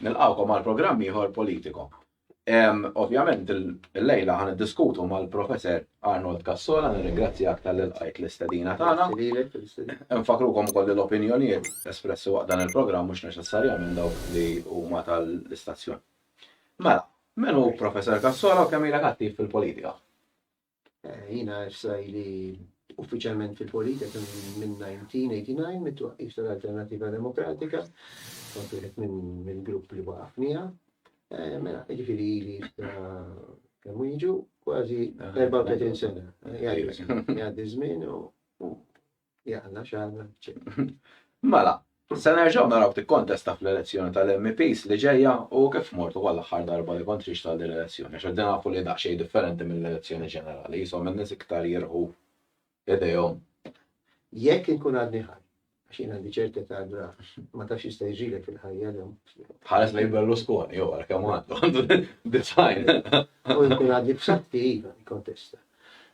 Nilqawkom għal programm ieħor politiko. Ovvjament, il-lejla għan diskutu ma' l-professor Arnold Kassola, nirringrazzjak tal-ilqajt l-istadina tagħna. Nfakrukom kolli l-opinjonijiet espressi waqt dan il-programm mhux neċessarjament dawk li huma tal-istazzjon. Mela, menu professor Kassola u kemm ilek attiv fil-politika? Jiena issa ili uffiċjalment fil-politika minn 1989 mit-twaqqif tal-Alternattiva Demokratika, kont wieħed mill-grupp li waqaf miegħha. Eh, mela, ġifiri li kemm jiġu kważi 34 sena. Jgħaddi żmien u Jalla, xalla, Mela, se nerġaw naraw tikkontesta fl-elezzjoni tal-MPs li ġejja u kif mortu għal aħħar darba li kont riġt għal din l-elezzjoni, għax qed nafu li daqsxejn differenti mill-elezzjoni ġenerali, jisom in-nies iktar jirħu idejhom. Jekk inkun għadni ħaj, għax jien għandi ċerti ta' għadra, ma tafx jista' jġilek fil-ħajja l Ħares li Berlusconi, jew għal kemm għandu, design. U jkun għadni b'satti, iva, kontesta.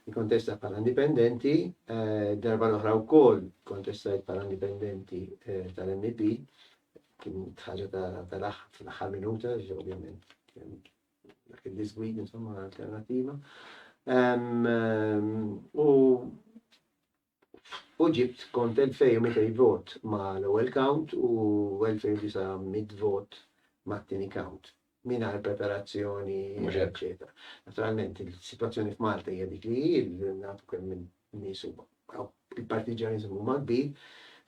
Ikkontesta bħala indipendenti, darba l-oħra wkoll kontestajt bħala indipendenti tal-MEP, kien ħaġa tal-aħħar minuta, ovvjament, dak il-disgwid, insomma, alternativa. U u ġibt kont 2200 vot ma' l-ewwel count u 2900 vot mat-tieni count mingħajr preparazzjoni eċċetera. Naturalment il-sitwazzjoni f'Malta hija dik li hi, nafu kemm in-nies huma il-partiġjaniżmu huma kbir,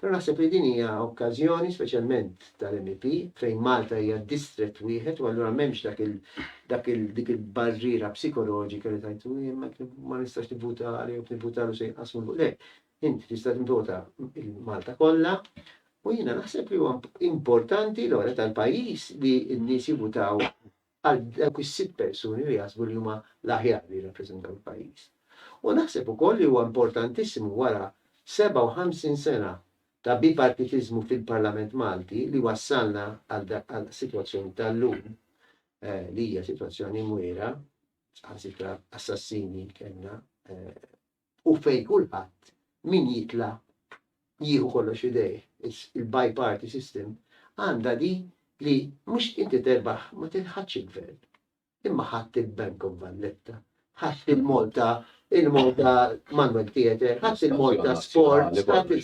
però naħseb li din hija okkażjoni speċjalment tal-MEP, fejn Malta hija distrett wieħed u allura m'hemmx dak il dak il dik il-barriera psikoloġika li tajtu ma nistax nivvuta għalihom nivvuta għal se jinqasmu fuq le. Inti tista' nivvota il-Malta kollha u jiena naħseb li huwa importanti l-ora tal-pajjiż li n-nies jivvutaw għal dawk is-sitt persuni li jaħsbu li huma l-aħjar li jirrappreżentaw il-pajjiż. U naħseb ukoll li huwa importantissimu wara 57 sena ta' bipartitiżmu fil-Parlament Malti li wassalna għall-sitwazzjoni tal-lum li hija sitwazzjoni mwiegħra, saħansitra assassini kellna u fejn kulħadd min jitla' jieħu kollox f'idejh, il-bi-party system, għandha di li mhux inti terbaħ ma tilħaqx il-gvern, imma ħadt il-Bank of Valletta, ħadt il-Malta, il-Malta Manual Theatre, ħadt il-Malta Sports, ħadt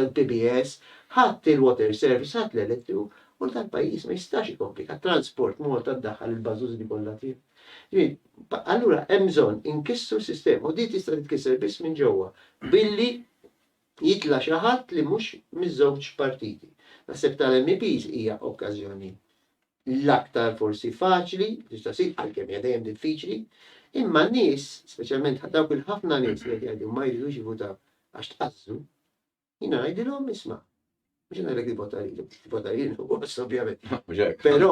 il-PBS, ħadt il-Water Service, ħadt l-Elettriku, u dal-pajjiż ma jistax ikompli, għat-transport Malta ddaħħal il-bażużni kollha tiegħu. Li, allura hemm bżonn inkissru s-sistema u din tista' titkisser biss minn ġewwa billi jitla' xi ħadd li mhux miż-żewġ partiti. Naħseb tal-MEPs hija okkażjoni l-aktar forsi faċli li tista' ssir, għalkemm hija dejjem diffiċli, imma n-nies, speċjalment dawk il-ħafna nies li qed jgħidu ma jridux jivvutaw għax tqażżu, Jina ngħidilhom isma'. Mhux ngħidlek li vota lili, vota lili ħoss ovvjament. Però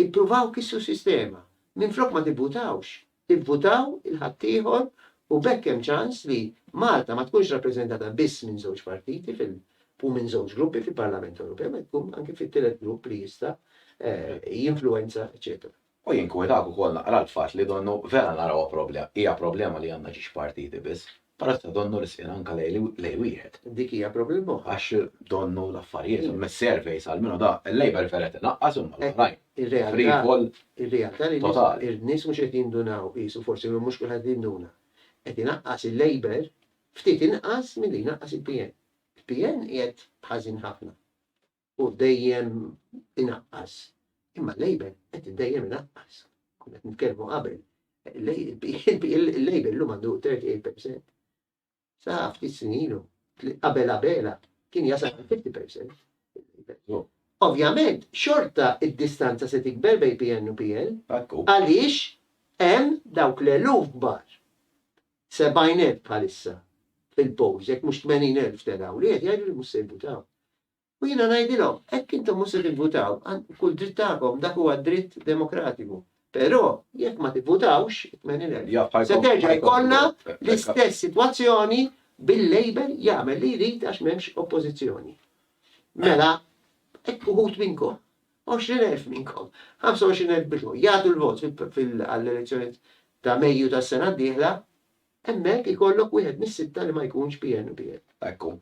ippruvaw kissu sistema. Minn flok ma tivvutawx, ivvutaw il-ħaddieħor u bekk hemm ċans li Malta ma tkunx rappreżentata biss minn żewġ partiti fil u minn żewġ gruppi fil-Parlament Ewropew, ma tkun anke fit-tielet grupp li jista' eh, jinfluwenza, eċetera. U jinkwetak ukoll naqra l-fatt li donnu vera narawha problema, hija problema li għandna xi xpartiti biss, però tista' donnu li ssir anke lejl wieħed. Dik hija problema oħra. Għax donnu l-affarijiet, mis-surveys almenu da, il-labour fair qed inaqqas imma l-oħrajn, free fall totali. Ir-nies mhux qed jindunaw qisu, forsi mhux kulħadd qed jinduna. Qed inaqqas il-labour ftit inqas milli jnaqqas il-PN. Il-PN qiegħed ħażin ħafna. u dejjem inaqqas. Imma l-label qed dejjem inaqqas. Kunet nitkellmu qabel. Il-label l-lum għandu 38%. Sa ftit snilu, qabel qabela, kien jasal 50%. Ovvjament, xorta id-distanza se tikber bej PN u PL, għaliex hemm dawk l-eluf kbar. 70,000 bħalissa fil-polls, jekk mhux 80,000 telaw, li qed jgħidu li mhux se jibutaw. U jiena ngħidilhom, hekk intom mhux se tivvutaw, kull dritt tagħkom, dak huwa dritt demokratiku. Però jekk ma tivvutawx, se terġa' jkollna l-istess sitwazzjoni bil-Labour jagħmel li jrid għax m'hemmx oppożizzjoni. Mela, hekk uħud minnkom, 20,000 minnkom, 25,000 bidlu, jagħtu l-vot għall-elezzjonijiet ta' Mejju tas-sena d-dieħla, hemmhekk ikollok wieħed mis-sitta li ma jkunx PN u PL. Ekku.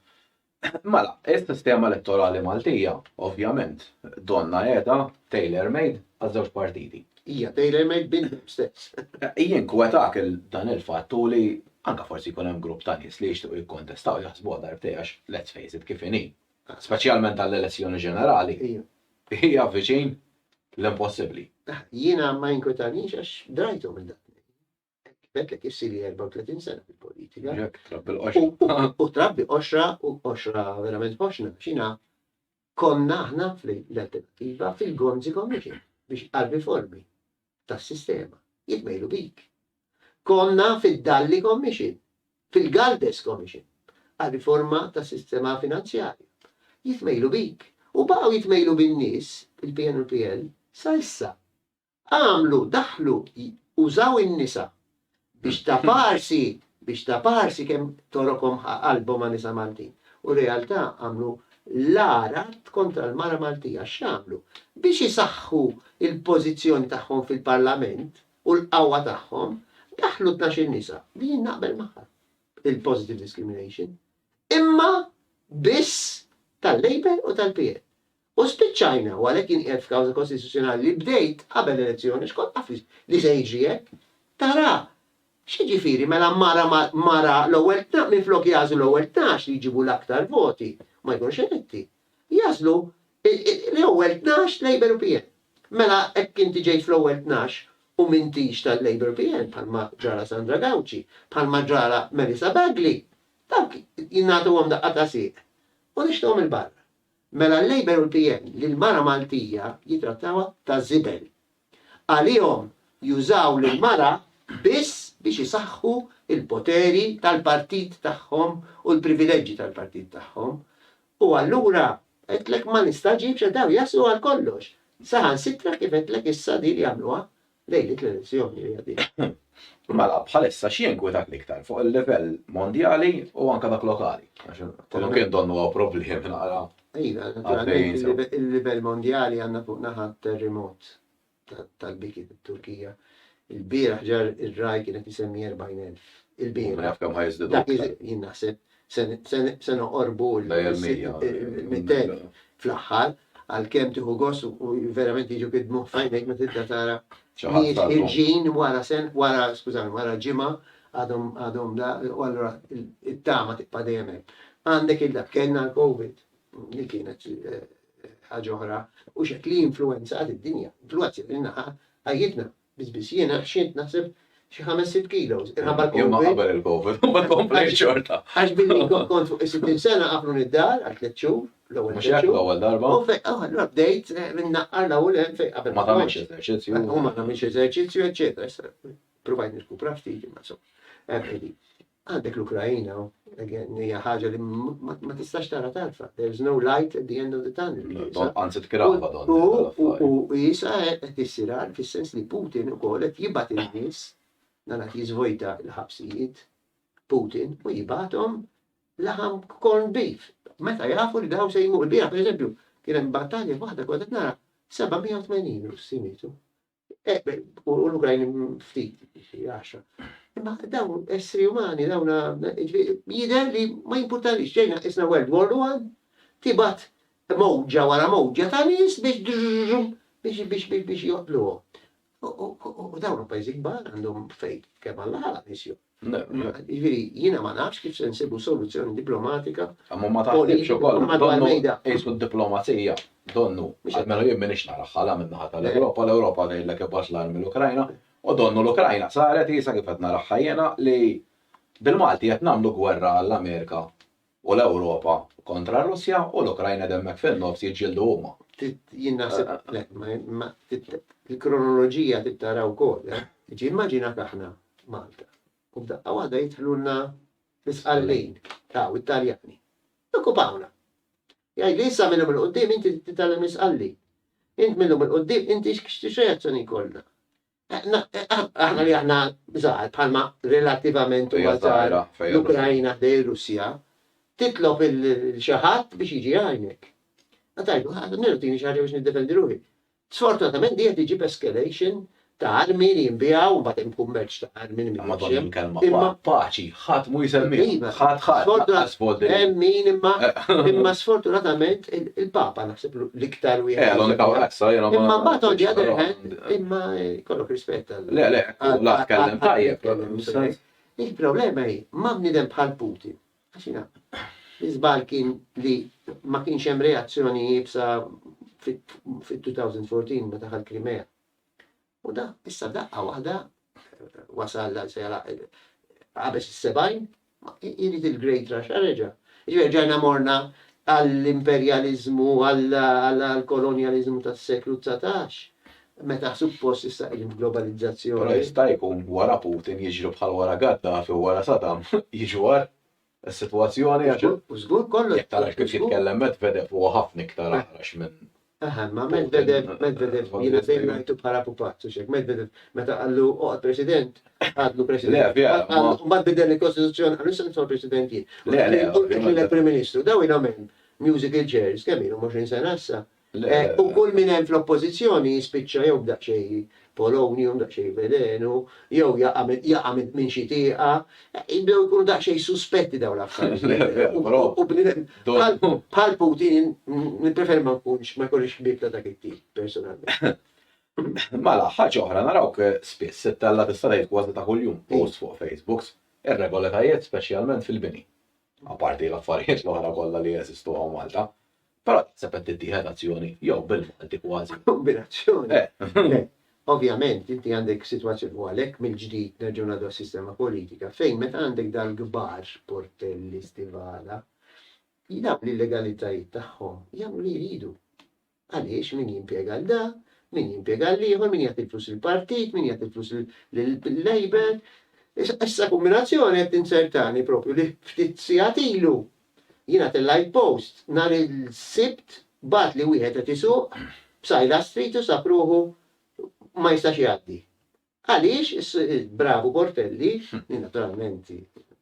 Mela, is-sistema elettorali Maltija, ovvjament, donnha qiegħda tailor-made għaż-żewġ partiti. Hija tailor-made bintom stess. Jinkwetak dan il-fatt u li anke forsi jkun hemm grupp ta' nies li jixtiequ jikkontestaw jaħsbuha darbtejn għax let's face it kif inhi, speċjalment għall-elezzjoni ġenerali, hija viċin l-impossibbli. Jiena ma jinkwetanix għax drajthom il-dakinhar. Bekk qed issiri 34 sena fil-politika. U trabbi qoxra u qoxra verament ħoxna xina konna aħna fl-alternativa fil-Gonzi Commission biex għal-riformi tas-sistema jitmejlu bik. Konna fil-Dalli Commission, fil-Galdes Commission, għal-riforma tas-sistema finanzjarja. Jitmejlu bik. U baqgħu jitmejlu bin-nies, il-PNPL, sa issa. Għamlu, daħlu, użaw in-nisa biex taparsi, biex taparsi kemm torokhom ħa qalbhom għan-nisa Maltin. U realtà għamlu l-agħar att kontra l-mara Maltija. X'għamlu? Biex isaħħu l-pożizzjoni tagħhom fil-Parlament u l-qawwa tagħhom, daħlu tnax-il nisa, li jien naqbel magħha, il-positive discrimination, imma biss tal-Labour u tal-PN. U spiċċajna, u għalhekk jien qiegħed f'kawża kostituzzjonali li bdejt qabel l-elezzjoni għax kont naf li se jiġri hekk. Tara, x'jiġifieri mela mara ma' mara l-ewwel minflok jagħżlu l-ewwel tnax li jġibu l-aktar voti u ma jkunux eletti, jagħżlu l-ewwel tnax Labour u PN. Mela hekk inti ġejt fl-ewwel tnax u m'intix tal-Labour u PN bħalma ġralha Sandra Gauci, bħalma ġralha Melissa Bagley, dawk jingħatuhom daqqa ta' sieq u nixtuhom 'il barra. Mela l-Labour u l-PN lill-mara Maltija jittrattawha ta' żibel. Għalihom jużaw lill-mara biss biex isaħħu l-poteri tal-partit tagħhom u l-privileġġi tal-partit tagħhom. U allura għedtlek ma nistagħġibx għax dawn jaslu għal kollox. Saħansitra kif għedtlek issa din jagħmluha lejn it-transizzjoni li għaddejja. Mela, bħalissa x'jinkwitak l-iktar fuq il-livell mondjali u anke dak lokali? Għax kollu kien donnu huwa problemi naqra. Iva, naturalment il-livell mondjali għandna fuq naħa terremot tal-biki fit-Turkija. Il-bieraħ ġar ir-raj kienet isemmi 40,000. Il-bieraħ. Naf kemm ħajżdidu. Dak jien naħseb Se noqorbu l-mittej fl-aħħar, għalkemm tieħu gost u verament jiġu id-dmugħ f'għajnejk meta tibda tara nies ħierġin wara sena, wara, skużawni, wara ġimgħa għadhom la, u allura t-tama tibqa' dejjem hemm. Għandek il-dak, kellna l-COVID li kienet ħaġa oħra, u x'hekk li influwenzat id-dinja, influwenzat lilna ħajjitna, Biss biss jiena ħxiet naħseb xi ħames sitt kilos. Irħabba l-Covid. Imma qabel il-Covid, ma komplejt xorta. Għax billi kont fuq is-60 sena għaflu nid-dar għal tliet xhur, l-ewwel tliet xhur. L-ewwel darba. U fejn allura ah, bdejt eh, minn naqqar l-ewwel hemm fejn qabel. Ma tagħmilx eżerċizzju. Eh, u ma tagħmilx eżerċizzju, eċċetera. Provajt nirkupra ftit, ma so. Eh, Għandek l-Ukraina, again, hija ħaġa li ma tistax tara tarfa. There is no light at the end of the tunnel. Anzi tkrava don. U jisa qed issir għal fis-sens li Putin ukoll qed jibgħat in-nies dan qed jiżvojta l-ħabsijiet Putin u jibgħathom laħam corn beef. Meta jafu li dawn se jmur biha, pereżempju, kien hemm battalja waħda kont qed nara 780 Russi mietu. U l-Ukrajni ftit, xi għaxra. Imma dawn essri umani, dawn jider li ma jimpurtanix ġejna isna World War One, tibat mowġa wara mowġa ta' nies biex biex biex biex biex joqtluhom. U dawn pajjiżi kbar għandhom fejn kemm għall-ħala nies joqtlu. Jiġifieri, jiena ma nafx kif se nsibu soluzzjoni diplomatika. Imma ma taħsibx ukoll, donnu qisu d-diplomazija, donnu, almenu jien m'iniex naraha la min-naħa tal-Ewropa, l-Ewropa tgħidlek ibgħat l-armi l-Ukrajna, u donnu l-Ukrajna saret qiesha kif qed naraha jiena li bil-Malti qed nagħmlu gwerra għall-Amerika. U l-Ewropa kontra r-Russja u l-Ukrajna qed hemmhekk fin-nofs jiġġieldu huma. Trid jien naħseb le, ma il-kronoloġija trid tara wkoll. Jiġi immaġinak aħna Malta u f'daqqa waħda jidħlulna l-Isqallin, taw it-Taljani. Jokkupawna. Jgħidli issa minnhom il-qudiem inti titgħallem l-Isqallin. Int minnhom il-qudiem inti x'reazzjoni jkollna. Aħna li aħna żgħar bħalma relattivament huwa żgħar l-Ukrajna ħdej ir-Russja, titlob il-xi ħadd biex jiġi jgħinek. Għatajdu, għadmiru tini xaħġa biex niddefendi ruħi. Sfortunatament di qed iġib escalation ta' armi li jinbijaw u mbagħad hemm kummerċ ta' armi li Imma paċi Ħadd mhu jsemmihom. Ħadd ħadd lanqas vot li. Hemm min imma imma sfortunatament il-Papa naħseb l-iktar wieħed. Eh, l-unika issa jiena ma. Imma mbagħad on the other hand imma jkollok rispett għal. Le, le, la tkellem tajjeb. Il-problema hi ma' bniedem bħal Putin. Għax jiena l-iżbal kien li ma kienx hemm reazzjoni jibsa fit-2014 meta ħal Krimea. U da, issa daqqa waħda wasal għal sejra għabes is-sebajn, jrid il-Great Russia reġa. Ġifieri ġajna morna għall-imperjaliżmu, għall-kolonjaliżmu tas-seklu 19, meta suppost issa qegħdin f'globalizzazzjoni. Però jista' jkun wara Putin jiġru bħal wara Gaddafi u wara Saddam jiġu għar. is-sitwazzjoni għax U żgur kollox. jekk tarax kif jitkellem Medvedev huwa ħafna iktar aqrax minn Aha, ma Medvedev, Medvedev, jiena dejjem ngħidu bħala pupazz, u xek, Medvedev, meta qallu oqgħod president, għadlu president. Le, vera, Mbagħad qallu- ma- Mbagħad bidel il-Kostituzzjoni, qallu issa nitfa' president jien. Le, le, Qed ovvjament. lilek Prim Ministru, daw ilhom hemm musical chairs, kemm ilhom 20 sena issa, U kull min hemm fl-oppożizzjoni jispiċċa jew b'daqsxejn Polonju, jew b'daqsxejn velenu, jew jaqa' jaqa' minn xi tieqa. Jibdew ikunu daqsxejn suspetti dawn l-affarijiet. U bniedem bħal Putin nippreferi ma nkunx ma jkollix ħbieb ta' dak it-tip personalment. Mela, ħaġa oħra, narawk spiss, ittella' tista' tgħid kważi ta' kuljum, posts fuq Facebook, irregoletajiet speċjalment fil-bini. apparti l-affarijiet l-oħra kollha li jeżistu hawn Malta, però taħseb qed tittieħed azzjoni jew bil-Malti kważi. Kombinazzjoni. Le, ovvjament inti għandek sitwazzjoni u għalhekk mill-ġdid nerġgħu ngħaddu għas-sistema politika fejn meta għandek dal-kbar, Portelli, Stivala, dawn l-illegalitàjiet tagħhom jagħmlu li jridu. Għaliex, min jimpjega lil da, min jimpjega lil ieħor, min jagħti l-flus lill-partit, min jagħti l-flus lill-Labour. Issa kumbinazzjoni qed tinzertani proprju li ftit sigħat ilu jiena tellajt post nhar il-Sibt bagħatli wieħed qed isuq b'sajla street u sab ruħu ma jistax jgħaddi. Għaliex il-bravu Bortelli, li naturalment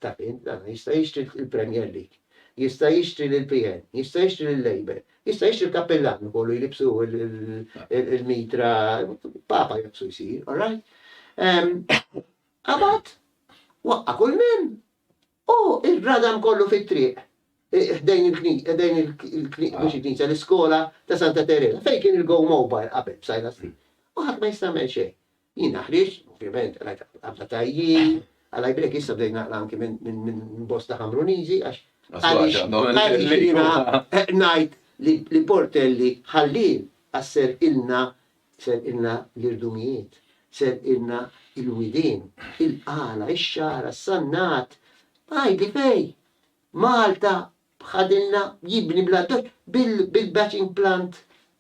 taf int dan, jista' jixtri l-Premier League, jista' jixtri lill-PN, jista' jixtri lill-Labour, jista' jixtri l-kappillan ukoll u jlibbsu l-mitra, Papa jaqsu jsir, all right? Qabad, waqqa' kull minn. U l-gradam kollu fit-triq ħdejn il-knisja, ħdejn il-knisja, mhux il-knisja, l-iskola ta' Santa Teresa, fejn kien il-Go Mobile qabel b'Sajla Street. U ħadd ma jista' jagħmel xejn. Jiena ħriġt, ovvjament, rajt qabda tajjin, għal break issa bdejt naqra anki minn bosta Ħamruniżi għax ngħid li portelli ħallin qasser ilna Serqilna l-irdumijiet, serqilna l-widien, il-qala, ix-xagħra, s-sannat. Għidli fej! Malta b'ħadilna jibni bla toċ bil-batching plant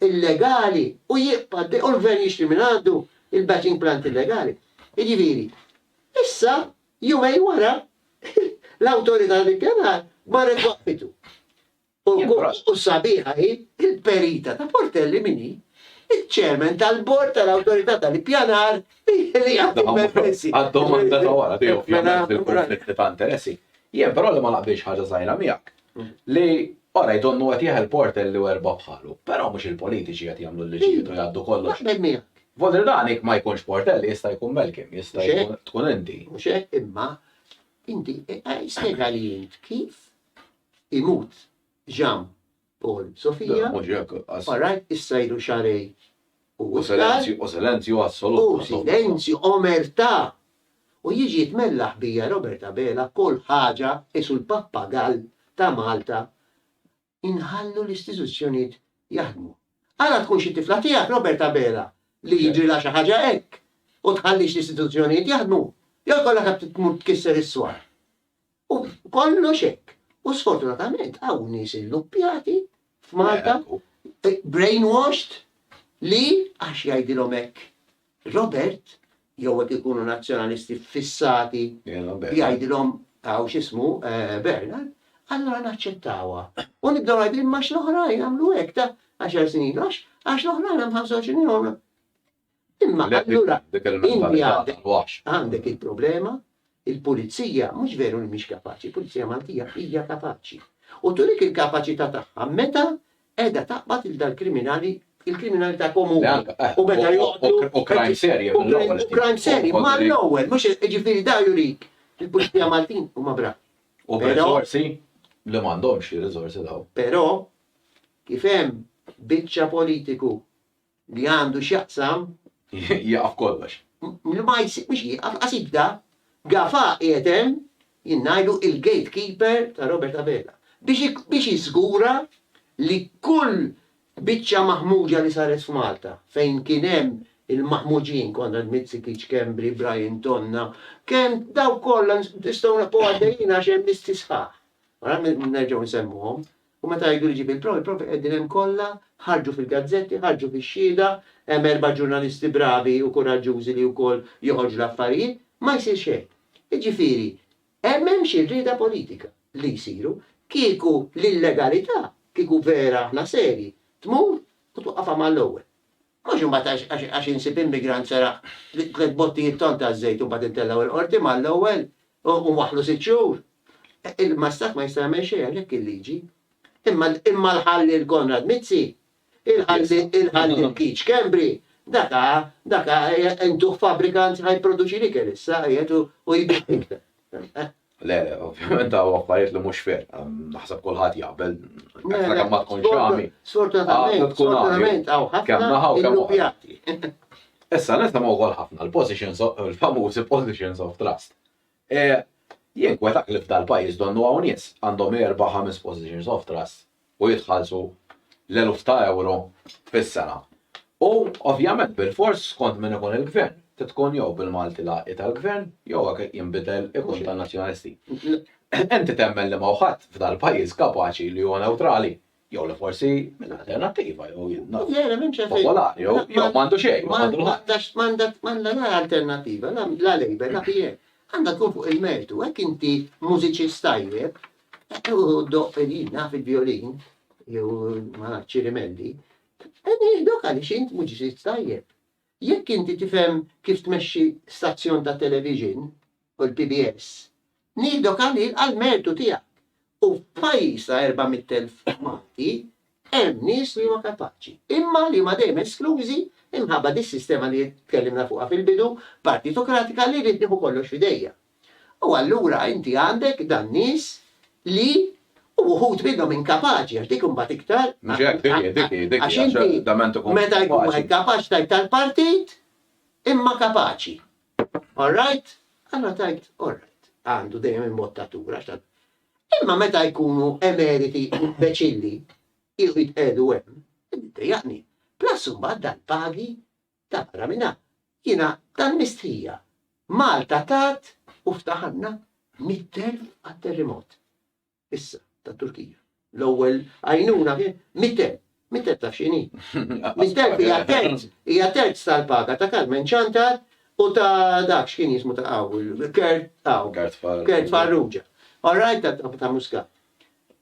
illegali u jibqa' u l-gvern jixtri minn għandu il-batching plant illegali. Jiġifieri, issa jumejn wara l-Awtorità tal-Ippjanar marret waqfitu. U gross u sabiħa hi l-perita ta' Portelli min hi ċ-Chairman tal-Bord tal-Awtorità tal-Ippjanar li jħeliha fil-permessi. Għad-domanda ta' wara tiegħu ovvjament fil-kunflitti ta' interessi. Jien però li ma naqbilx ħaġa żgħira miegħek li orajt donnu qed jeħel Portelli u erbgħa bħalu. Però mhux il-politiċi qed jagħmlu l-liġijiet u jgħaddu kollox. Naqbel miegħek. Vodrilani ma jkunx Portelli jista' jkun Melkin, jista' jkun tkun inti. Mhux hekk imma inti spjegali int kif imut Jean Paul Sofia, orajt issa ilu xahrejn u iktar, u silenzju omerta' u jiġi jitmella ħbija Robert Abela kull ħaġa qisu l-pappagall ta' Malta inħallu l-istituzzjonijiet jaħdmu. Ara tkun xi tifla tiegħek Robert Abela li jiġrilha xi ħaġa hekk u tħallix l-istituzzjonijiet jaħdmu jew ikollha tmur tkisser is-swar. U kollox hekk. U sfortunatament hawn nies illuppjati f'Malta, brainwashed, li għax jgħidilhom hekk Robert, jew hekk ikunu Nazzjonalisti ffissati jgħidilhom hawn x'ismu Bernard, allura naċċettawha. U nibdew ngħidu imma x'l-oħrajn għamlu hekk ta' għaxar snin ilu, għax l-oħrajn hemm 25 ilu għamlu. Imma allura inti għandek il-problema, il-Pulizija mhux veru li mhix kapaċi, il-Pulizija Maltija hija kapaċi. U turik il-kapaċità tagħha meta qiegħda taqbad lil dal-kriminali il-kriminalità komuni. U meta joqtlu. U crime serje. U crime serje. Ma l-ewwel, mhux ġifieri da jurik il-Pulizija Maltin u ma bra. U b'riżorsi li m'għandhomx riżorsi daw. Però kif hemm biċċa politiku li għandu x'jaqsam. Jieqaf kollox. Li ma jsib mhux jieqaf, qas jibda. Gafà qiegħed hemm, jien ngħidlu il-gate keeper ta' Robert Abela. Biex jiżgura li kull biċċa maħmuġa li saret f'Malta, fejn kien hemm il-maħmuġin, Konrad Mizzikic, Schembri, Brian Tonna, kemm dawk kollha nistgħu nibqgħu għaddejjin għax hemm listi sħaħ. Ara nerġgħu nsemmuhom. U meta jgħidu li ġieb il-provi, il-provi qegħdin hemm kollha, ħarġu fil-gazzetti, ħarġu fix-xhieda, hemm erba' ġurnalisti bravi u kuraġġużi li wkoll joħorġu l-affarijiet, ma jsir xejn. Jiġifieri, hemm hemm xi rieda politika li jsiru, kieku l-illegalità, kieku vera aħna serji, tmur u twaqqafha mal-ewwel. Mhux imbagħad għax għax insib immigrant seraq tliet bottijiet ton taż-żejt u mbagħad intellgħu il-Qorti mal-ewwel u u waħħlu sitt xhur. Il-Mastat ma jista' jagħmel xejn għax hekk il-liġi. Imma imma l-ħalliel Konrad Mizzi, il-ħalliel il-ħalliel Keith Schembri, dak ha dak ha intuh fabbrikant ħa jipproduċi l-ikel issa qiegħed u u jbigħ l-ikel. Le, le, ovvjament għaw affarijiet li mhux fer, naħseb kulħadd jaqbel, għaxra kemm ma tkunx għami. Sfortunatament, sfortunatament għaw ħafna illupjati. Issa nisimgħu wkoll ħafna l-positions il-famużi positions of trust. E, jien kwetak li f'dal-pajjiż donnu hawn nies għandhom erba' ħames positions of trust u jitħallsu l-eluf ta' ewro fis-sena. U, ovvjament, bilfors, skont min ikun il-Gvern, trid tkun jew bil-Malti l-għaqli tal-Gvern, jew jekk jinbidel ikun tan-Nazzjonalisti. Inti temmen li ma' hu ħadd f'dal-pajjiż kapaċi li huwa newtrali? Jew li forsi minn Alternattiva, jew jien naf. Le, le, m'hemm xejn fejn. Popolari, jew m'għandu xejn, jew m'għandu l-ħadd. M'għandha la Alternattiva, la Labour, la PN. Għandha tkun fuq il-mertu. Jekk inti mużiċist tajjeb, U doq fedina fil-violin, jew ma nafx ċirimelli, nieħdok għaliex int muġiżiż tajjeb. Jekk inti tifhem kif tmexxi stazzjon ta' television u l-PBS, nieħdok għalih għall-mertu tiegħek. U f'pajjiż ta' 400,000 Malti, Hemm nies li huma kapaċi, imma li huma dejjem esklużi imħabba dis-sistema li tkellimna fuqha fil-bidu, partitokratika li rrid nieħu kollox f'idejja. U allura inti għandek dan nies li u wħud minnhom inkapaċi għax dik imbagħad iktar Mhux hekk, dik hi, dik hi, dik hi, għax inti meta jkun wieħed kapaċi tgħid tal-partit imma kapaċi. All right? Allura tgħid all right, għandu dejjem il-mod ta' tur għax tant Imma meta jkunu emeriti u imbeċilli jiequ jitqiegħdu hemm, iddejjaqni. Plus imbagħad dal-pagi ta' barra minn hawn. Jiena tal-mistħija. Malta tat u ftaħanna mitt elf għat-terrimot. Issa, tat-Turkija. L-ewwel għajnuna kien mitt elf. Mittet taf xini. Misterbi hija terz, hija terz tal-paga ta' Kalmen Ċantar u ta' dak x'kien jismu ta' qaw, Kert qaw. Kert Farrugia. All right ta' Muscat.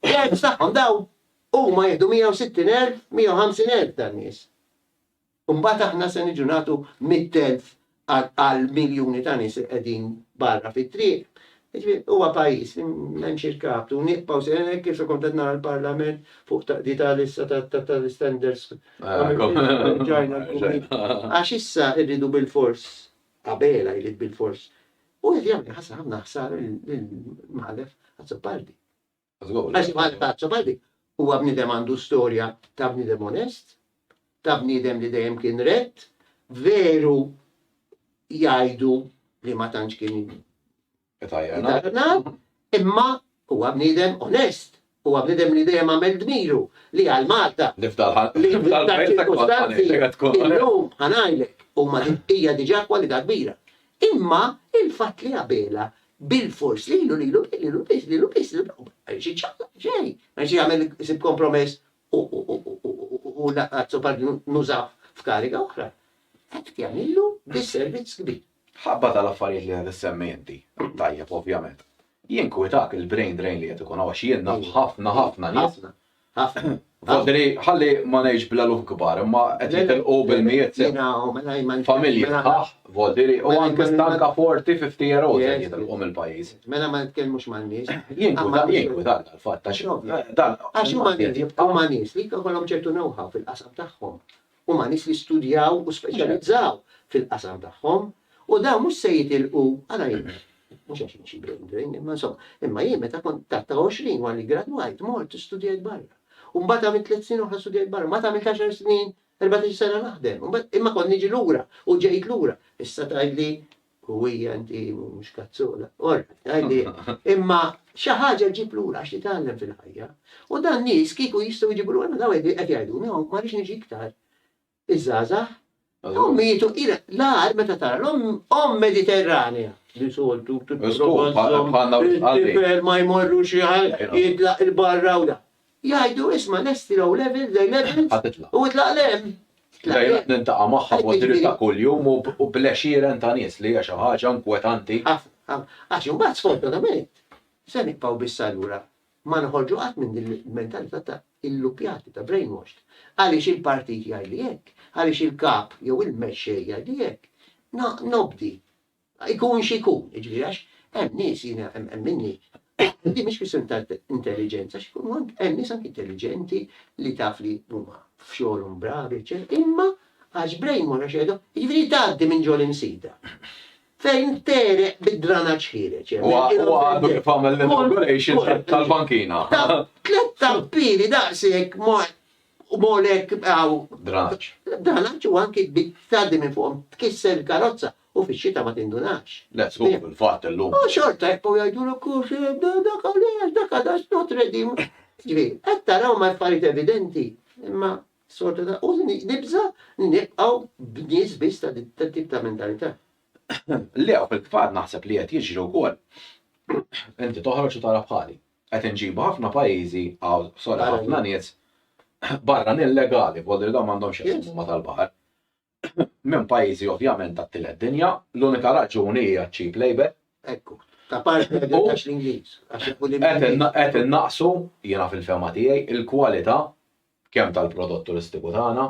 Terz tagħhom daw huma jieħdu 160,000, 150,000 tan-nies. U mbagħad aħna se niġu nagħtu mitt elf għal miljuni ta' nies li qegħdin barra fit-triq. Jiġifieri huwa pajjiż li m'hemmx irkab u nibqgħu se hekk kif kont qed nara l-Parlament fuq taqdita lissa tal-istandards ġajna l-kumit. Għax issa rridu bilfors, Abela jrid bilfors, u qed jagħmel ħafna ħsara lill-Mħallef Azzopardi. Għax bħal taċċa bħal dik, huwa bniedem għandu storja ta' bniedem onest, ta' bniedem li dejjem kien rett, veru jgħidu li ma tantx kien itajjarnaw, imma huwa bniedem onest, huwa bniedem li dejjem għamel dmiru li għal Malta. Nifdalħal. Li l-lum ħanajlek huma hija diġà kwalità kbira. Imma il-fatt li għabela Bilfors lilu, lilu, lilu biss, lilu biss, lilu biss, ma jridx iċċaqlaq b'xejn, ma jridx jagħmel isib kompromess u lanqas supad nużah f'kariga oħra. Hekk jagħmillu disservizz kbir. Ħabba tal-affarijiet li qed issemmi inti, tajjeb ovvjament, jinkwetak il-brain drain li qed ikun hawn għax jien naf ħafna, ħafna nies Vodri, ħalli ma ngħidx bl-eluf kbar, imma qed jitilqu bil-mijiet familji. Vodri, u anke stanka 40, 50 year olds qed jitilqu mill-pajjiż. Mela ma nitkellmux man-nies. Jinkwietani dal-fatt għax. Għax huma nies li jkollhom ċertu know-how fil-qasam tagħhom. Huma nies li studjaw u speċjalizzaw fil-qasam tagħhom u dawn mhux se jitilqu għal għajnuna. Mhux għax jien xi brain drain, imma insomma, imma jien meta kont taħt 20 wara li gradwajt mort studjajt barra. U mbagħad għamilt tliet snin oħra studjajt barra, mbagħad għamilt 10 snin, 14 sena naħdem, imma kont niġi lura u ġejt lura. Issa tgħidli Huwija inti mhux kazzola. Orrajt, għidilha. Imma xi ħaġa ġġib lura għax titgħallem fil-ħajja. U dan nies kieku jistgħu jġibu lura dawn qed qed jgħiduni hawn ma rridx niġi iktar. Iż-żgħażagħ Dawn mietu ira l-għar meta tara l-omm omm Mediterranea. Li soltu Żgur, bħal- bħalna u tqalli. il-tifel ma jmorru xi ħaġa, jitlaq il-barra u da. Jgħidu, isma' lesti low level, day level. Ħa titlaq. U itlaq l-hemm. Lejla niltaqa' magħha b'mod dirett ta' kuljum u bl-għexieren ta' nies li hija xi ħaġa inkwetanti. Ħafna, ħafna. Għax imbagħad sfortunatament se nibqgħu biss allura ma noħorġu qatt minn din il-mentalità ta' illuppjati, ta' brainwashed. Għaliex il-partit jgħidli hekk, għaliex il-kap jew il-mexxej jgħidli hekk. Nobdi. Ikun x'ikun, jiġifieri għax hemm nies, jiena hemm minni, din mhix kwistjoni ta' intelliġenza, hemm nies anki intelliġenti li taf li huma f'xogħolhom bravi eċċetera, imma għax brain wash għax qiegħda, jiġifieri tgħaddi minn ġol imsida fejn tereq bid-dranaġġ ħiereġ hemm. Huwa huwa għandu kif għamel l-inauguration tal-bankina. Tliet tappiri daqshekk ma u molek hawn. Dranaġġ. Dranaġġ u anki tgħaddi minn fuqhom tkisser il-karozza U fix-xita ma tindunakx. Let's go fil-fatt illum. U xorta jibqgħu jgħidulek kux dak għaliex, dak għalax not ready. Jiġifieri, qed taraw ma' affarijiet evidenti, imma sfortunata u nibża' li nibqgħu b'nies biss ta' tat-tip ta' mentalità. Le, u fil-fatt naħseb li qed jiġri wkoll. Inti toħroġ u tara bħali. Qed inġibu ħafna pajjiżi, hawn sorry ħafna nies barranin legali, b'għodu li dawn m'għandhomx xi jaqsmu ma' tal-baħar. minn pajjiżi ovvjament tat-tielet dinja, l-unika raġuni hija ċ-cheap labour. Ekku, ta' parti qed għax l-Ingliż, għax ikun l-Ingliż. Qed innaqsu, jiena fil-fehma tiegħi, il-kwalità kemm tal-prodott turistiku tagħna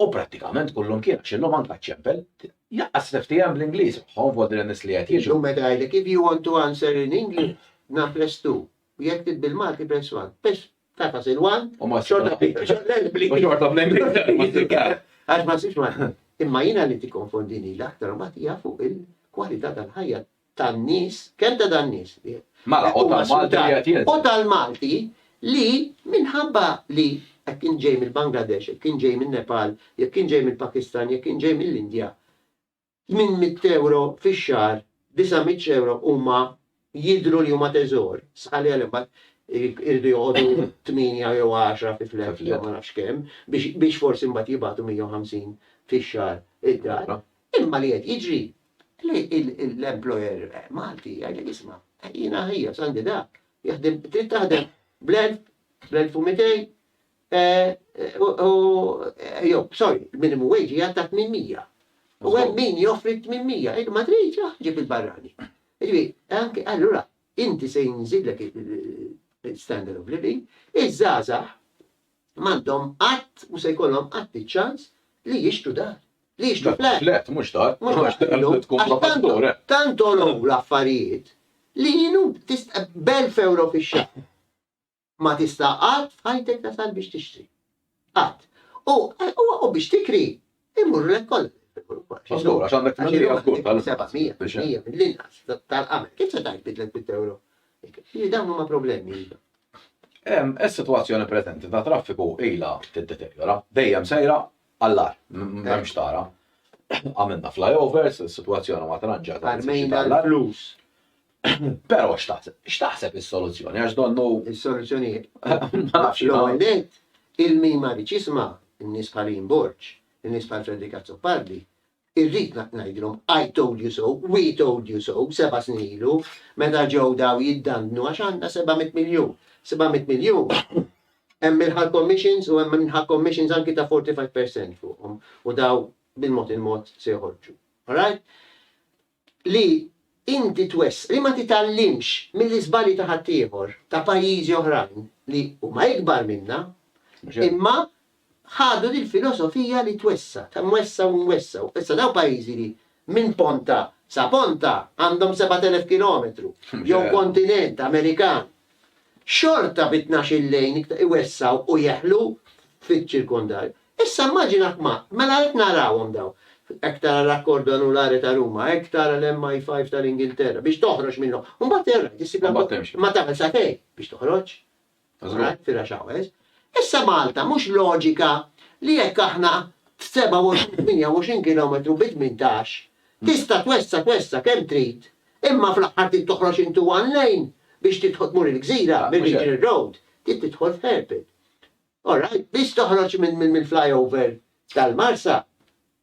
u prattikament kull imkien għax illum anke għaċ-ċempel, lanqas niftiehem bl-Ingliż magħhom f'għoddi lin-nies li qed jiġu. Illum meta jgħidlek if you want to answer in English, naf lest u jekk trid bil-Malti press one. Tata Silwan, u ma xorta bl-Ingli. U xorta bl-Ingli. Għax ma sibx ma. Imma jina li ti konfondini l-aktar u batija fuq il-kwalità tal-ħajja tan-nies, kemm ta' dan-nies. Mela, u tal-Malti li għet jgħet. U tal-Malti li minħabba li jek kien ġej mill-Bangladesh, jek kien ġej mill-Nepal, jek kien ġej mill-Pakistan, jek kien ġej mill-Indja, Tmien mitt ewro fix-xahar, disa' mitt ewro huma jidhru li huma teżor. Sħa li għal imbagħad iridu joqogħdu tmienja jew għaxra fi fleħ jew ma nafx kemm biex biex forsi mbagħad jibagħtu mija u ħamsin fix-xahar id-dar. Imma li qed jiġri li l-employer Malti jgħidlek isma' jiena ħieles għandi da, jaħdem trid taħdem bl-elf, bl-elf u mitejn, Jew, sorry, il-minimum wage hija ta' 800. U hemm min joffri 800, jgħid ma tridx, ah, ġib il-barrani. Ġifieri, anke allura inti se jinżillek il-standard of living, iż-żgħażagħ m'għandhom qatt u se jkollhom qatt iċ-ċans li jixtru dar. Li jixtru flat. Flat, mhux dar. Mhux dar. Għax tkun profattur, eh. Tant olow l-affarijiet li jienu tista' b'elf euro fix-xahar. Ma tista' qatt f'ħajtek tasal biex tixtri. Qatt. U u biex tikri imurrulek kollha. Mażgur, għax għandek tixtri għal kull tal-700 mill-inqas tal-qamel. Kif se tgħid bidlet bit ewro? Jiġifieri dawn huma problemi. Is-sitwazzjoni preżenti ta' traffiku ilha tiddeterjora, dejjem sejra Għallar, m'hemmx tara. Għamilna flyovers, is-sitwazzjoni ma tranġat. Armejna l-flus. Pero x'taħseb is-soluzzjoni għax donnu. Is-soluzzjoni l-għonet il-min ma rridx jisma' n-nies bħal Borġ, in-nies bħal Frederick Azzopardi, Irrid ngħidilhom I told you so, we told you so seba' snin ilu meta ġew daw jiddandnu għax għandna seba' mitt miljun. Seba' mitt miljun hemm il-ħal commissions u hemm il-ħal commissions anki ta' 45% fuqhom u daw bil-mod il-mod se joħorġu. All right? li inti twess, li ma titgħallimx mill-iżbalji ta' ħaddieħor, ta' pajjiżi oħrajn li huma ikbar minna, imma ħadu dil-filosofija li twessa', ta' nwessgħu u nwessgħu. Issa dawn pajjiżi li minn ponta sa ponta għandhom sebat elef kilometru, jew kontinent Amerikan, Xorta bi tnax-il lejn iktar iwessgħu u jeħlu fiċ-ċirkondarju. Issa immaġina kmand, mela hekk narawhom dawn. Hekk tara l-Accordo Anulare ta' Ruma, hekk tara l-MI5 tal-Ingilterra, biex toħroġ minnhom. U mbagħad ir-rajd issib l-abbozz. Mbagħad temxi. Imma tagħmel sagħtejn biex toħroġ. Żgur. Fir-rush hours. Issa Malta mhux loġika li jekk aħna 27, 28 kilometru bi tmintax, tista' twessa' twessa' kemm trid, Imma fl-aħħar trid toħroġ into one lane biex tidħol tmur il-gżira minn Ridley Road. Trid tidħol f'hairpin. All right? Biss toħroġ mill-flyover tal-Marsa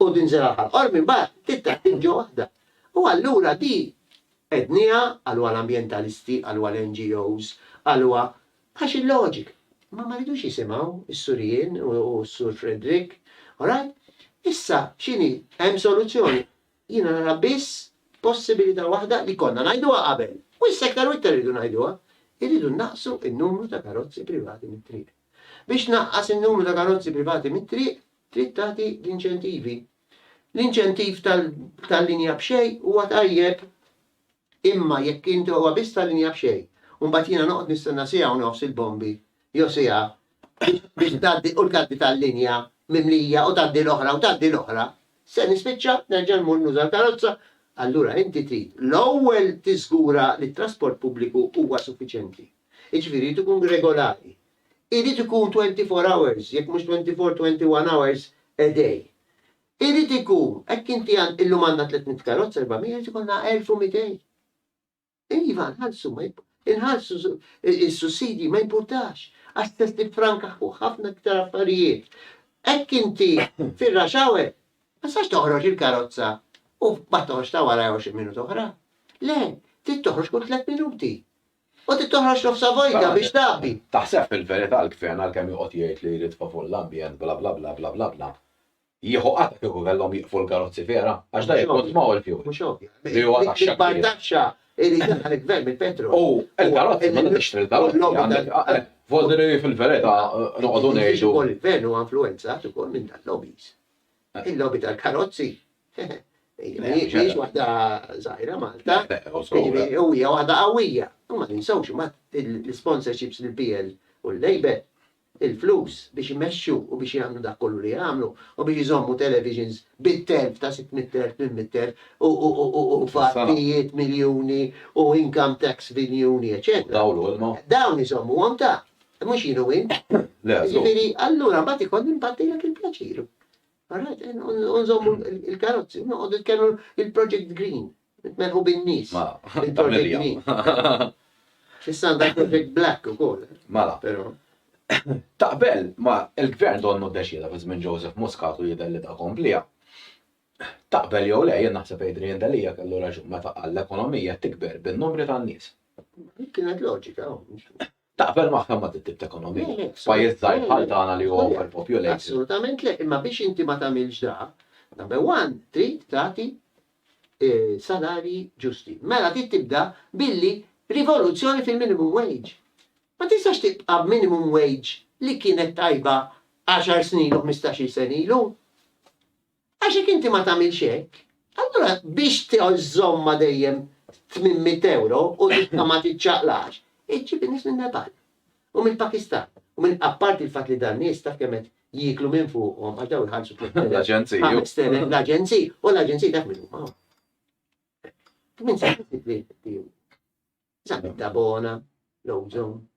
u tinżel għal Ħal Qormi mbagħad trid tgħaddi mġo waħda. U allura di għedniha qalwa l-ambjentalisti, qalwa l-NGOs, qalwa għax il-loġika. Imma ma ridux jisimgħu s-Sur Ian u s-Sur Frederick. All right? Issa x'inhi? Hemm soluzzjoni? Jiena nara biss possibilità waħda li konna ngħiduha qabel, u issa iktar u iktar irridu ngħiduha, irridu nnaqqsu n-numru ta' karozzi privati mit-triq. Biex tnaqqas in-numru ta' karozzi privati mit-triq, trid tagħti l-inċentivi. L-inċentiv tal-linja b'xejn huwa tajjeb. Imma jekk inti huwa biss ta' linja b'xejn u mbagħad jiena noqgħod nistenna siegħa u nofs il-bombi jew siegħa biex tgħaddi u tgħaddi tal-linja mimlija u tgħaddi l-oħra u tgħaddi l-oħra, se nispiċċa nerġa' mmur nuża l-karozza. Allura inti trid l-ewwel tiżgura li t-trasport pubbliku huwa suffiċjenti. Jiġifieri jrid ikun regolari. Irid ikun twenty four hours, jekk mhux twenty four, twenty one hours a day. Irid ikun, hekk inti għan, illum għandna 300 karozza, 400, irid ikollna 1200. Iva, nħallsu, inħallsu is-sussidji ma jimpurtax, għax test tifranka fuq ħafna iktar affarijiet. Hekk inti fir-raxawe, ma sax toħroġ il-karozza u ma toħroġ ta' wara 20 minut oħra. Le, trid toħroġ kull 3 minuti. U trid toħroġ nofsha vojta biex tgħabbi. Taħseb fil-verità l-Gvern għalkemm joqgħod jgħid li jrid favur l-ambjent bla bla bla bla bla bla, jieħu qatgħa kieku kellhom jieqfu l-karozzi vera? Għax dan jikkonsmaw il-fjuwil. Mhux ovvja. Li huwa taxxa kbira. L-ikbar taxxa li jdaħħal il-Gvern mill-petrol. U l-karozzi, meta tixtri l-karozzi. Forsi li fil-verità noqogħdu ngħidu. Il-Gvern huwa influwenzat ukoll minn dan lobbies. Il-lobby tal-karozzi. Mhijiex waħda żgħira Malta. U hija waħda qawwija. U ma ninsewx imbagħad l-sponsorships lil PL u l-Labour, il-flus biex imexxu u biex jagħmlu dak kollu li jagħmlu u biex iżommu televisions bit-telf ta' 600,000, 800,000 u fattijiet miljuni u income tax biljuni, eċċetera. Dawl u ilma. Dawn iżommuhom ta'. Mhux jien u int. Le, żgur. Jiġifieri allura mbagħad ikollni npaddilek il-pjaċir. Alright, nżommu il-karozzi, noqgħod nitkellmu il-Project Green. Nitmerħu bin-nies. Ma, il-Project Green. X'issa għandha Project Black ukoll. Mala. Però. Taqbel ma il-gvern donnu deċida fi żmien Joseph Muscat u jidher li ta' komplija. Taqbel jew le jien naħseb Adrian Delija kellu raġun meta qal l-ekonomija tikber bin-numri tan-nies. Kienet loġika. Oh, Taqbel magħha ma' dit-tip ta' ekonomija? Pajjiż żgħir bħal tagħna li huwa overpopulated. Assolutament le, imma biex inti ma tagħmilx da, number one, trid tagħti salarji ġusti. Mela trid tibda billi rivoluzzjoni fil-minimum wage. Ma tistax tibqa' b'minimum wage li kienet tajba għaxar snin u ħmistax-il sena ilu. Għax jekk inti ma tagħmilx hekk, allura biex tżommha dejjem 800 ewro u tibqa' ma tiċċaqlax, iġġib in-nies min-Nepal u mill-Pakistan u minn apparti l-fatt li dan nies taf kemm qed jieklu minn fuqhom għax dawn iħallsu 3,000, 5,000 l-aġenziji u l-aġenziji taf min huma. Tmien snin li Zabet Dabona, Lowzon,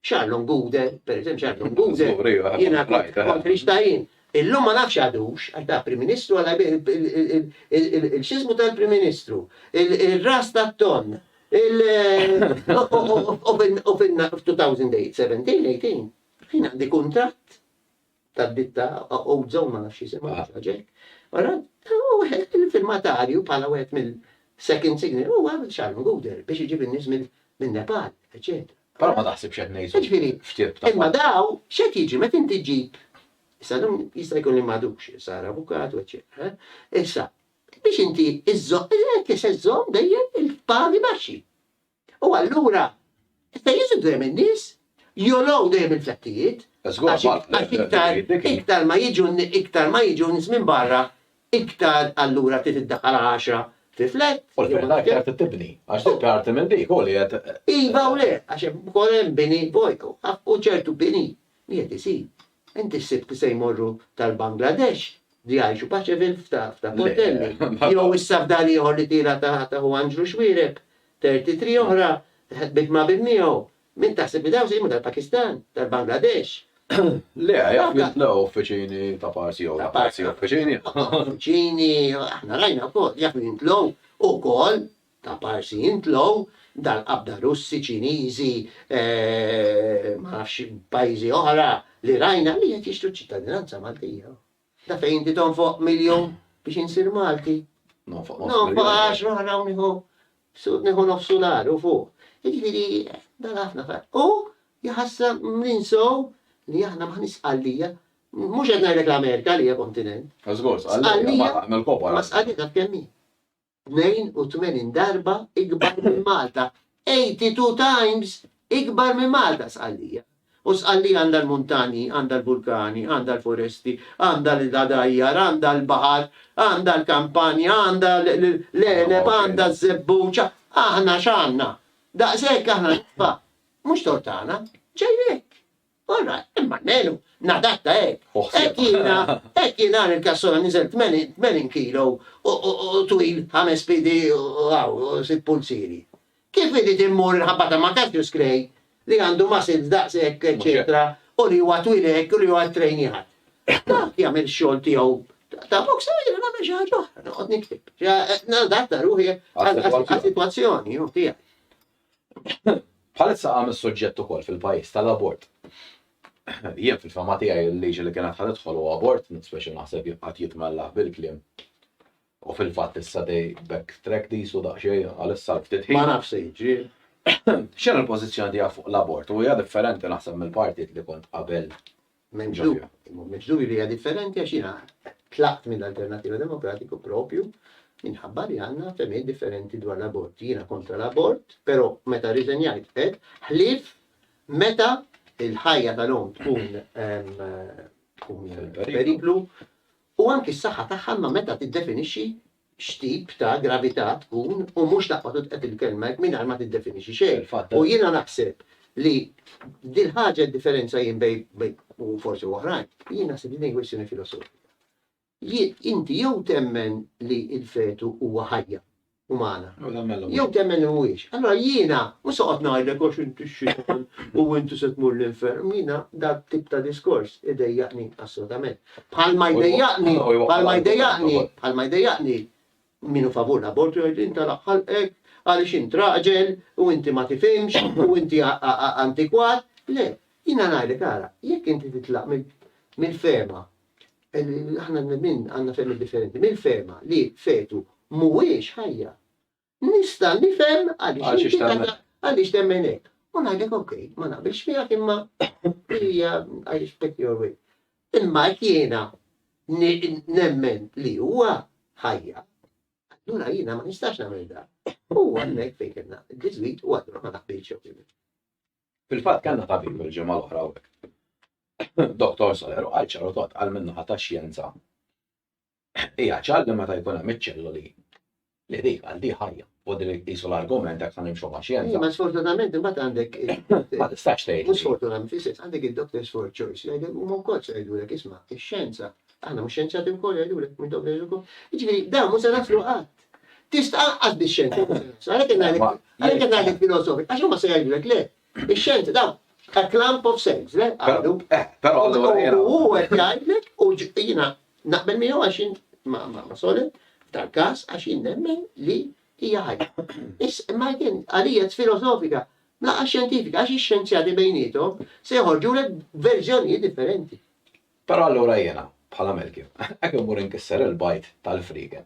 Charlon Guder, per eżempju, Charlon Guder, jena kont Kristajin. Illum ma nafx għadux, għax da Prim Ministru għal il-xizmu tal-Prim Ministru, il-ras ta' ton, il-2017, 18, jina għandi kontrat tad-ditta Ozo, ma nafx jisimha, ah. ħaġa hekk. Ara, wieħed il-filmatarju bħala wieħed mill-second signal huwa Sharon Guder biex iġib in-nies minn Nepal, eċetera. Però ma taħsibx qed ngħidu. Ġifieri, f'tirb ta' imma daw x'qed jiġi meta inti ġib Issa dum jista' jkun li madux, sar avukat u eċetera. Eh? Issa, biex inti iżżomm, qed iżżomm dejjem il-pagi baxxi. U allura se jiżu dejjem in-nies, jogħlow dejjem il-prezzijiet, għax iktar iktar ma jiġu iktar ma jiġu nies minn barra, iktar allura trid iddaħħal għaxra fi flat. U l-flat iktar trid tibni, għax dik parti minn dik, hu li qed. Iva u le, għax hemm ukoll hemm bini bojtu, u ċertu bini Qiegħed isib. Inti ssibt li se jmorru tal-Bangladesh li jgħixu paċevil f'ta' portelli. Jew issa f'dar ieħor li tiela ta' ta' Hu Anġlu Xwiereb, 33 oħra ħdmiet ma' bint miegħu. Min taħseb li dawn se jimgħu tal-Pakistan, tal-Bangladesh? Le, jaf li tlew uffiċini ta' parsi jew ta' parsi uffiċini. Uffiċini, aħna rajna wkoll, jaf li ntlew ukoll Ta' parsi int low, dal-qabda Russi, Ċiniżi, ma nafx pajjiżi oħra li rajna li qed jixtru ċ-ċittadinanza Maltija. Da fejn inti tonfoq miljun biex insir Malti. Nonfoq nofs miljun. Nonfoq għaxra oħra u nieħu nieħu nofsu nar u fuq. Jiġifieri dan ħafna fat. U jħassa ninsow li aħna maħniex sqallija. Mhux qed ngħidlek l-Amerika li hija kontinent. Żgur, sqallija. Sqallija. Nagħmel kopa. Ma sqallija kemm hi. 82 darba ikbar minn Malta, 82 times ikbar minn Malta Sqallija. U Sqallija għandha l-muntanji, għandha l-vulkani, għandha l-foresti, għandha l-għadajjar, għandha l-baħar, għandha l-kampanja, għandha l-għeneb, għandha ż-żebbuġ, aħna x'għandna? Daqshekk aħna nitfa'. Mhux tort tagħna, ġej hekk. Ora, imma almenu nadatta hekk. Hekk jiena, hekk jien nhar il-kassola niżilt 80 kilo u twil ħames piedi u hawn u sitt pulzieri. Kif irid immur inħabbatha ma' Cassius Clay li għandu muscles daqs hekk eċċetera u li huwa twil hekk u li huwa ttrejnjat. Dak jagħmel ix-xogħol tiegħu ta' boxer u jiena nagħmel xi ħaġa oħra, noqgħod nikteb. Nadatta ruħi għas-sitwazzjoni tiegħi. Bħalissa qam is-suġġett ukoll fil-pajjiż tal-abort. Jien fil-fehma tiegħi l-liġi li kienet ħa tidħol huwa abort, mhux speċi naħseb jibqgħet jitmellaħ bil-kliem. U fil-fatt issa dej back track these u daqsxejn għalissa l-ftit ħin. Ma nafx se jiġri. X'inhi l-pożizzjoni tiegħek fuq l-abort? U hija differenti naħseb mill-partit li kont qabel Mġdub, mġdub li hija differenti għax jiena tlaqt minn Alternattiva Demokratiku propju minħabba li għandna fehmiet differenti dwar l-abort. Jiena kontra l-abort, però meta riżenjajt qed ħlief meta il-ħajja tal-om tkun periklu u anki s-saħħa tagħha ma meta tiddefinixxi x'tip ta' gravità tkun u mhux taqbad u tqed il-kelma hekk mingħajr ma tiddefinixxi xejn. U jiena naħseb li dil-ħaġa d-differenza jien bejn u forsi oħrajn, jien naħseb li din hi kwistjoni filosofika. Inti jew temmen li l-fetu huwa ħajja umana, jew temmen li mhuwiex. Allura jiena mhux se noqgħod ngħidlek għax inti x-Xitan u inti se tmur l-infern, jiena dak tip ta' diskors idejjaqni assolutament. Bħalma jdejjaqni, bħalma jdejjaqni, bħalma jdejjaqni minu favur l-abortu jgħid inta laħħalqek għaliex int raġel u inti ma tifhimx u inti antikwat. Le, jiena ngħidlek ara, jekk inti titlaq mill-fema, aħna minn għandna femi differenti, mill-fema li fetu mhuwiex ħajja. Nista' nifhem għaliex għaliex temmen hekk. U ngħidlek ok, ma naqbilx miegħek imma hija għaliex pick your way. Imma jekk jiena nemmen li huwa ħajja, allura jiena ma nistax nagħmel da. U għandek fejn kellna diżwit u għadru ma naqbilx Fil-fatt kellna tabib il-ġimgħa l-oħra Doktor Soler u għal ċarotot għal minnu ħata xjenza Hija ċar li meta jkun hemm iċ-ċelloli li dik għal di ħajja. U din qisu l-argument jekk se nimxu ma' xjenza. Ma sfortunatament imbagħad għandek Ma tistax tgħid. Mhux sfortunatament fis-sens għandek id-doctors for choice li jgħidlek huma wkoll se jgħidulek isma' ix-xjenza. Aħna mhux xjenzjati wkoll jgħidulek minn doctors ukoll. Jiġifieri dan mhux se naslu qatt. Tista' anqas bix-xjenza. Għalhekk qed ngħidlek għalhekk qed ngħidlek filosofi. Għax huma se jgħidulek le, Ix-xjenti ta' a clump of sayings, le? Għadu. Eh, però allura jiena. U hu qed jgħidlek u jiena naqbel miegħu għax jien ma' ma' Sole f'dal-każ għax jien nemmen li hija ħajja. Is imma again għalija it's filosofika, laqas xjentifika għax ix-xjenzjati bejniethom se joħorġulek verżjonijiet differenti. Però allura jiena, bħala Melkju, hekk immur inkisser il-bajd tal-friegen.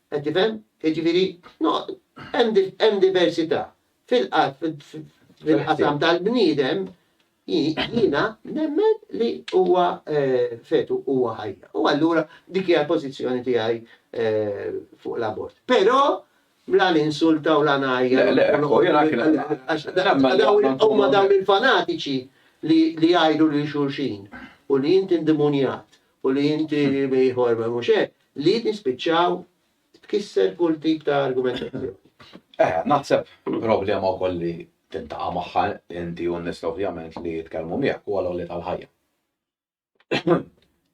Qed tifhem? Jiġifieri hemm diversità fil-qasam tal-bniedem, jiena nemmen li huwa fetu, huwa ħajja. U allura dik hija l-pożizzjoni tiegħi fuq l-abort. Però la ninsulta u la ngħajjar. Le, le, huma dawn il-fanatiċi li jgħidu lil xulxin u li int indemonjat u li inti ieħor ma mhux hekk, li tispiċċaw tkisser kull tip ta' argumentazzjoni. Eh, naħseb problema wkoll li tintaqa' magħha inti u n-nies ovvjament li jitkellmu miegħek huwa l-għoli tal-ħajja.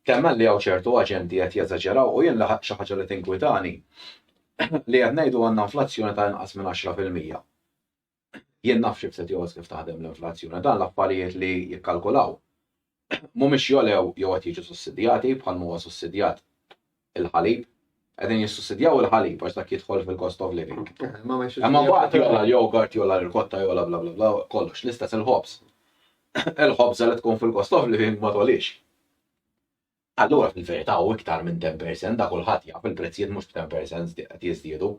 Temmen li hawn ċertu aġenti qed jeżaġeraw u jien li xi ħaġa li tinkwitani li qed ngħidu għandna inflazzjoni ta' inqas minn 10 fil-mija. Jien naf xi ftit jogħoż kif taħdem l-inflazzjoni. Dan l-affarijiet li jikkalkulaw mhumiex jogħlew jew qed jiġu sussidjati bħal ma huwa sussidjat il-ħalib. Qegħdin jissussidjaw il-ħalib għax dak jidħol fil-cost of living. Imma mbagħad jogħla l-yogurt, jogħla l-irkotta, jogħla bla bla bla, kollox. L-istess il-ħobż. Il-ħobża li tkun fil-cost of living ma togħlix. Allura fil-verità hu iktar minn 10% da kulħadd jaf il-prezzijiet mhux b'10% qed jiżdiedu.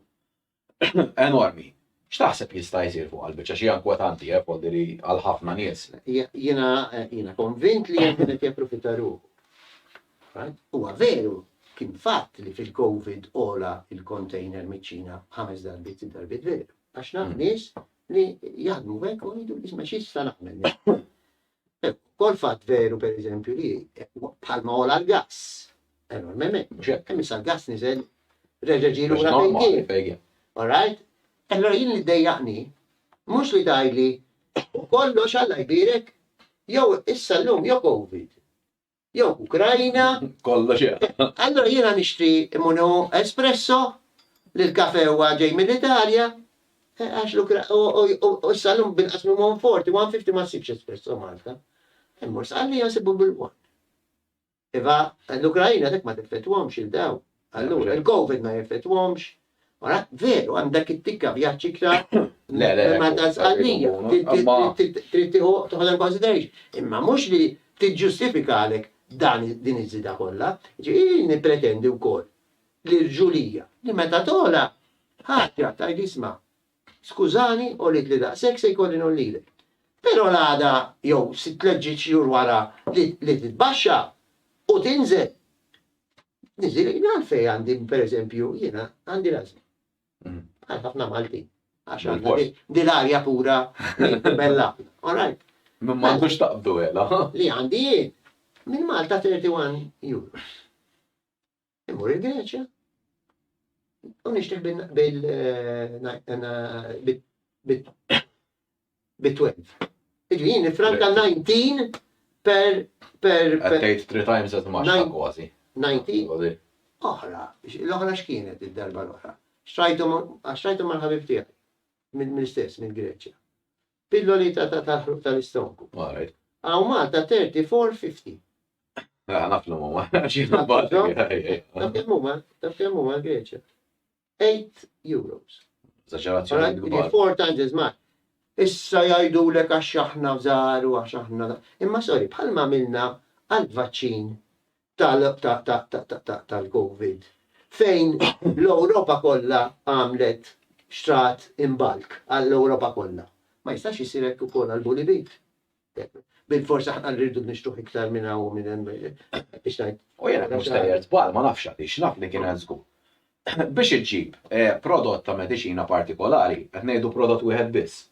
enormi. X'taħseb li jista' jsir fuq għall-biċċa xi inkwetanti eh, foldi li għal ħafna nies. Jiena jiena konvint li hemm qed japprofita ruħu. Huwa veru kien fatt li fil-COVID ola il-container miċ-Ċina ħames darbit, sitt darbit veru. Għax naf mm. nies li jaħdmu hekk u jgħidu isma' x'issa nagħmel. Ukoll fatt veru pereżempju li bħalma għola l-gass, enormement, hemm issa l-gass niżel reġa' ġie lura fejn kien. All right? Allura jien li ddejjaqni mhux li tgħidli kollox Alla jbierek jew issa llum jew Covid. jew Ukrajna. Kollox hemm. Allura jiena nixtri munu espresso li l-kafe huwa ġej mill-Italja, eh, għax u s-salum binqas minn 140, 150 ma sibx espresso Malta. Immur sqalli nsibu bil-1. Iva, l-Ukrajna dak ma tiffetwhomx il-daw. Allura il-Covid ma jeffettwhomx. Ara, veru, għandek it-tikka vjaġġ iktar ma ta' sqallija. Trid toħodha consideration. Imma mhux li tiġġustifika għalek dan din iż-żieda kollha. Ġifieri nippretendi wkoll li rġulija li meta togħla ħadd jgħid tgħid isma' skużani għolitli daqshekk se jkolli ngħollilek. Però l-għada jew sitt tliet ġiet xhur wara li titbaxxa u tinżel. Niżil għajni għalfej għandi, per eżempju, jiena għandi l-azma. Mm. Għal ħafna Malti. Għax dil-arja pura bella. All right. Minn ma għandux taqbdu għela. Li għandi jien. Minn Malta 31 euros. Immur il-Greċja. U nishtiq bil- bil- eh, eh, bi 12. Iġi jien nifranka 19 per per per. Tgħid 3 times as much kważi. 19. Oħra, l-oħra x'kienet id-darba l-oħra? Xtrajthom għax xtrajthom mal-ħabib tiegħi mill-istess minn Greċja. Pilloli ta' tal-ħruq tal-istronku. Għaw Malta 30 for 50. Naf l-mumma, xie nabbaġi. Naf l-mumma, naf l-mumma Greċja. 8 euros. Zaġerazzjoni kbar. Four times as much. Issa jajdu l għax aħna fżaru, għax aħna. Imma sorry, bħalma għamilna għal-vaċċin tal-Covid. Fejn l-Europa kollha għamlet xtrat imbalk għall-Europa kollha. Ma jistax jisirek u koll għal-bulibit. Bilfors aħna rridu nixtruh iktar minn hawn u minn hemm biex ngħid. U jiena mhux sejjer żball ma nafx għaliex, naf li kien hemm żgur. Biex iġġib prodott ta' mediċina partikolari, qed ngħidu prodott wieħed biss,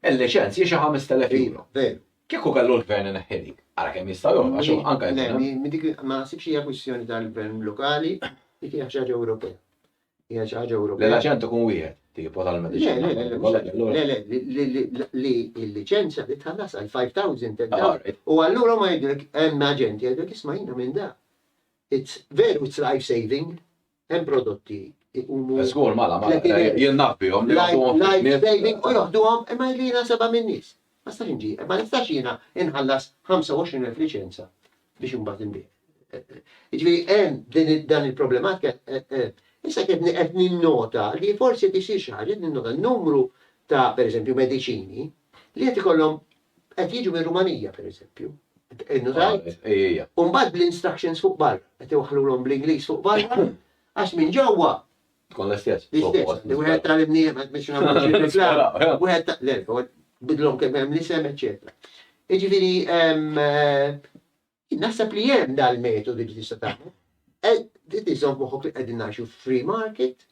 il-liċenzji xi ħamest elef euro. Veru. Kieku kellu l-Gvern ineħħi dik, ara kemm jista' jgħola għax hu anke jkun hemm. Le, ma naħsibx hija kwistjoni tal-Gvern lokali, dik hija xi ħaġa Ewropea. Hija xi ħaġa Ewropea. Li l-aċent ikun wieħed, tipo tal-mediċina. Le, le, li l-liċenzja li tħallas għal 5000 u allura ma jgħidlek hemm aġenti jgħidlek isma' jiena minn da. It's veru it's life saving, hemm prodotti jqumu. Żgur mala, mala, jien naf bihom. Life saving u joħduhom imma li nasaba minn nies. Ma nistax inġi, ma nistax jiena inħallas 25,000 liċenza biex imbagħad inbih. Jiġifieri hemm din dan il-problematika issa qed qed ninnota li forsi qed isir xi ħaġa, qed ninnota numru ta' pereżempju mediċini li qed ikollhom qed jiġu mir-Rumanija pereżempju. Innutajt? Ejja. U mbagħad bl-instructions fuq barra, qed iwaħħlulhom bl-Ingliż fuq barra għax minn ġewwa Tkun l-istess. L-istess, li wieħed ta' l-imniem, għad biex nagħmlu wieħed ta' l-erba, bidlhom kemm hemm l-isem, eċċetera. Iġifieri eh, naħseb li hemm dal-metodi li tista' tagħmel. Eh, Tizom moħok li qegħdin ngħixu free market,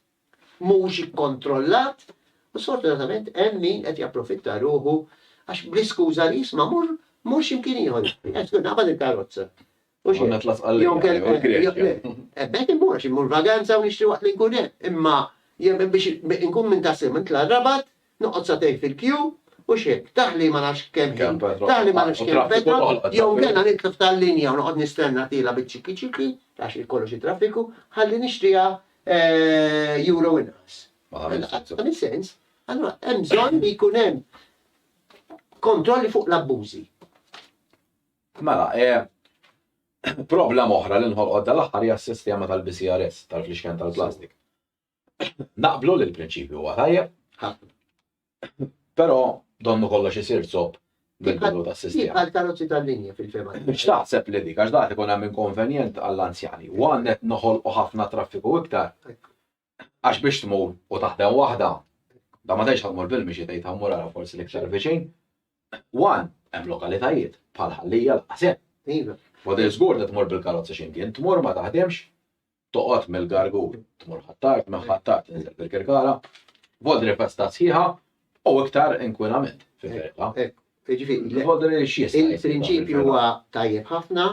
mhux ikkontrollat, u sfortunatament hemm min qed japprofitta ruħu għax bl-iskuża li jisma' mur mur x'imkien ieħor. Qed tkun naqbad il-karozza. Mhux Għandna hekk. tlafqal Jew lejha, jew il-Greċja. kellha, jew le. Eh, B'hekk immurx, immur vaganza u nixtri waqt li nkun hemm. Imma jew biex inkun minn ta' sew nitla' r-Rabat, noqgħod sagħtejn fil-kju, mhux hekk. Taħli ma nafx kemm ħin, Kemm petrol taħli ma nafx tolqot, u kemm traffiku petrol, tolqot, jew traffiku. inkella nitlef tal-linja u noqgħod nistenna tiela' biċ-ċiki ċiki, għax hi kollox hi traffiku, ħalli nixtriha eh, euro inqas. Ma tagħmilx sens. Ma tagħmilx sens. Allura hemm bżonn li jkun hemm kontrolli fuq l-abbużi. Mela, eh, problema oħra li nħolqod dal-aħħar hija s-sistema tal-BCRS, tal-flixken tal-plastik. Naqblu li l-prinċipju huwa tajjeb, però donnu kollox isir zopp bil-bidu ta' sistema. Għal karozzi tal-linja fil-fema. X'taħseb li dik, għax daħt ikun hemm inkonvenjent għall-anzjani. One qed noħolqu ħafna traffiku iktar. Għax biex tmur u taħdem waħda, da ma tgħidx ħa mmur bil-mixi tgħid ħa mmur ara forsi l-iktar viċin. One, hemm lokalitajiet, bħal Ħal-Lija lanqas hemm. Iva. F'Għodil żgur li tmur bil-karozza x'imkien, tmur ma taħdimx, toqgħod mill-Gargur, tmur Ħ'Attard, minn Ħ'Attard tinżel bil-Kirkara, Vodri festa sħiħa u iktar inkwinament fi ferieqha. Hekk, jiġifieri. Vodri x'jista' jsir. Il-prinċipju huwa tajjeb ħafna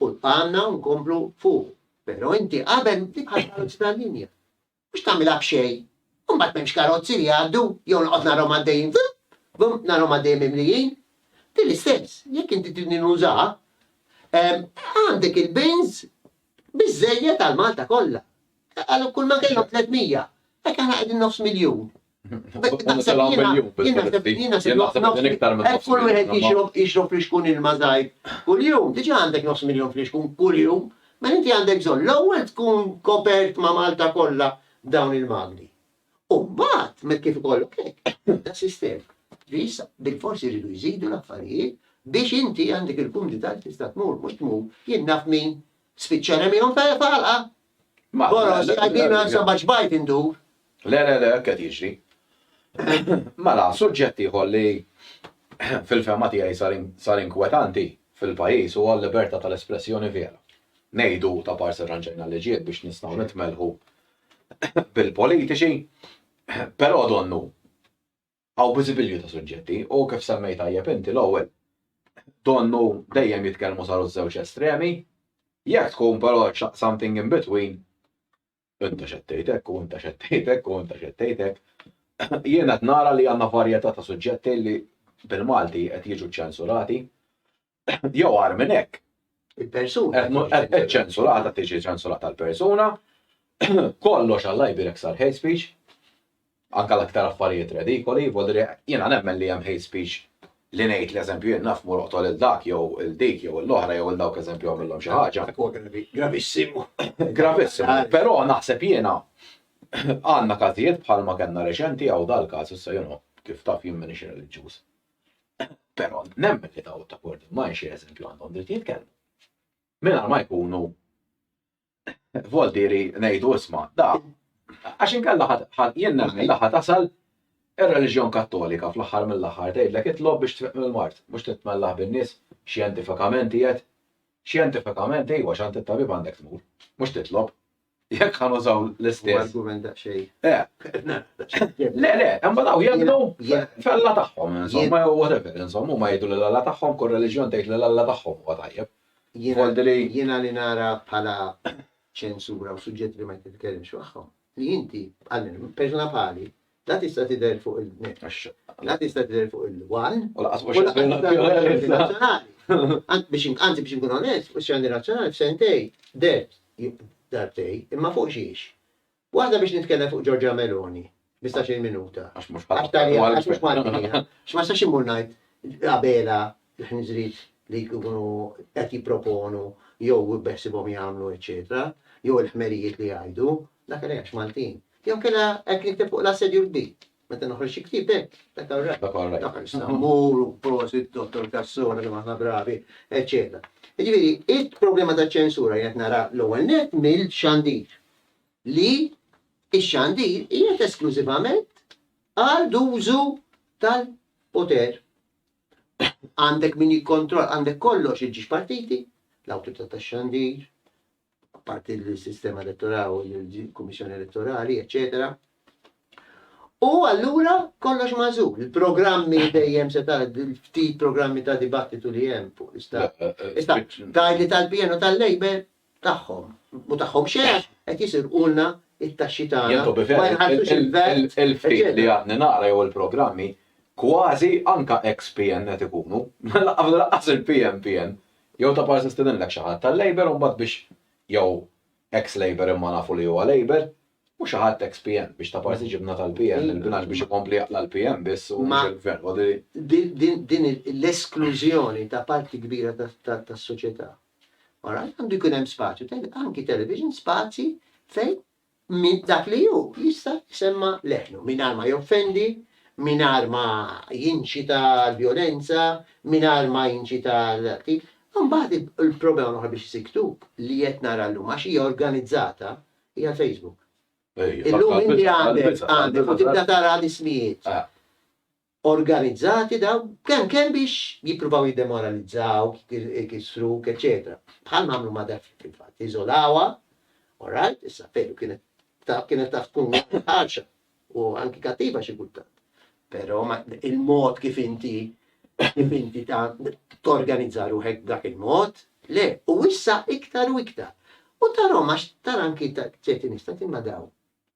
u għandna nkomplu fuqu. Però inti qabel dik għall-karozzi tal-linja. Mhux tagħmilha b'xejn. U mbagħad m'hemmx karozzi li jgħaddu jew noqgħod narahom għaddejjin vuup, vuup, narahom għaddejjin mimlijin. Din l-istess, jekk inti tridni nużaha, għandek il-bins biżżejjed għal Malta kollha. Għal kull ma kellhom 300, hekk aħna qegħdin nofs miljun. Kull wieħed jixrob flixkun ilma żgħir kuljum, diġà għandek nofs miljun flixkun kuljum, mela inti għandek bżonn l-ewwel tkun kopert ma' Malta kollha b'dawn il-magni. U mbagħad meta kif ikollok hekk, tibda s-sistema. Ġifieri issa bilfors iridu jżidu l-affarijiet biex inti għandek il-kumdità li tista' tmur, mhux tmur, jien naf min spiċċa remiehom f'ħalqa, Boros, għaddina għal seba' ġbajt indur. Le, le, le, qed jiġri. Mela, suġġett ieħor li fil-fehma tiegħi sar inkwetanti fil-pajjiż huwa l-libertà tal-espressjoni vera. Ngħidu ta' parsi rranġajna l-liġijiet biex nistgħu nitmellħu bil-politiċi, però donnu Hawn biżibilju ta' suġġetti u kif semmejt tajjeb inti l-ewwel donnu dejjem jitkellmu saru ż-żewġ estremi, jekk tkun però something in between inta x'qed tgħid hekk u inta x'qed tgħid hekk u inta x'qed tgħid hekk, jien qed nara li għandna varjetà ta' suġġetti li bil-Malti qed jiġu ċċensurati Jew għar minn hekk. Il-persuna. Ċensurata tiġi ċensurata l-persuna. Kollox għalla jbirek sar hate speech. Anka l-aktar affarijiet redikoli, volri jiena nemmen li hemm hate speech li ngħid l-eżempju jien naf mur oqtol il-dak jew il-dik jew l-oħra jew il-dawk eżempju għamillhom xi ħaġa. Gravissimu. Gravissimu. Però naħseb jiena għandna każijiet bħalma kellna reċenti għaw dal-każ issa jien kif taf jien m'iniex reliġjuż. Però nemmen li daw ta' Court d'Immaj xi eżempju għandhom dritt jitkellmu. Mingħajr ma jkunu voltieri ngħidu isma' da għax inkella ħadd jien nemmen li ħadd tasal ir-reliġjon Kattolika fl-aħħar mill-aħħar tgħidlek itlob biex tfiq mill-mard, mhux titmellah bin-nies xjentifikament qiegħed xjentifikament ejwa x'għand it-tabib għandek tmur, mhux titlob. Jekk ħan użaw l-istess. Argument daqsxejn. Eh. Le, le, imma daw jemnu fella tagħhom, insomma, jew whatever, insomma, huma jgħidu l alla tagħhom, kull reliġjon tgħid l alla tagħhom huwa tajjeb. Jiena li nara bħala ċensura u suġġett li ma jtitkellimx magħhom. Li inti, persuna bħali, La tista' tidher fuq il-net. La tista' tidher fuq il-wal. U laqas mhux razzjonali. Anzi biex inkun onest, u x'għandi razzjonali f'sentej dert darbtej, imma fuq xiex. Waħda biex nitkellem fuq Giorgia Meloni, 15-il minuta. Għax mhux bħal. Għax mhux Malti jiena. X'ma sax immur ngħid Abela l-ħniżriet li jkunu qed jipproponu jew beħsibhom jagħmlu eċċetera, jew il-ħmerijiet li jgħidu, Dak li għax Maltin. Jew kella hekk nikteb fuq l-assedju l-kbir. Meta noħroġ xi ktieb hekk, dak all right. Dak all right. Dak għax Sammur u prosit Dottor Cassola kemm aħna bravi, eċċetera. Jiġifieri, il-problema taċ-ċensura jien qed nara l-ewwel nett mill-xandir. Li x-xandir qiegħed esklużivament għal dużu tal-poter. Għandek min jikkontroll, għandek kollox iġġiex partiti, l-awtorità tax-xandir, apparti l-sistema elettorali, il-Kummissjoni Elettorali, eccetera. U allura kollox mażul, il-programmi dejjem se tara ftit programmi ta' dibattitu li hemm fuq l-istat. Issa, tajli tal-PN u tal-Labor tagħhom, u tagħhom xejn qed jisirqulna it-taxxi tagħna. Ma jħallsux il-vert. Il-ftit li għadni naqra jew il-programmi kważi anka ex-PN qed ikunu. Laqqas il-PN PN. Jew ta' parsi stidinlek xi ħadd tal-Labour u mbagħad biex jew ex Labour imma nafu li huwa Labour u xi ħadd ex PM biex ta' parsi ġibna tal-PM il-binax biex ikompli jaqla' l-PM biss u mhux il-Gvern. Din l-esklużjoni ta' parti kbira tas-soċjetà. Għandu jkun hemm spazju, anki television, spazji fejn minn dak li hu jista' jsemma' leħnu, mingħajr ma joffendi, mingħajr ma jinċita għal vjolenza, mingħajr ma jinċita għal qtil. Imbagħad il-problema l-oħra biex isir ktub li qed nara llum għax hija organizzata hija l-Facebook. Illum inti għandek u tibda tara l-ismijiet. organizzati dawn, kemm kemm biex jippruvaw jiddemoralizzawk, ikissruk, eċċetera. Bħal ma għamlu ma' Daphne fil-fatt. Iżolawha, all right, issa veru kienet taf kienet taf tkun ħarxa u anki kattiva xi kultant. Però il-mod kif inti kif inti ta' torganizza ruħek b'dak il-mod, le, u issa iktar u iktar. U tarhom għax tara anki ċerti nies tant imma dawn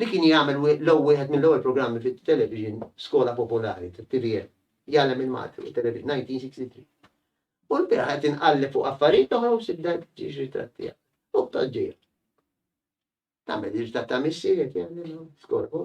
li kien jagħmel l-ew wieħed mill-ewwel programmi fit-television skola popolari tat-TVN, Jgħallem il-Malti fuq it-Television, 1963. U l-bieraħ qed inqalli fuq affarijiet oħra u sibda ġiex ritratt tiegħek. U b'toġġija. Tagħmel ritratt ta' missier, jgħallem skola.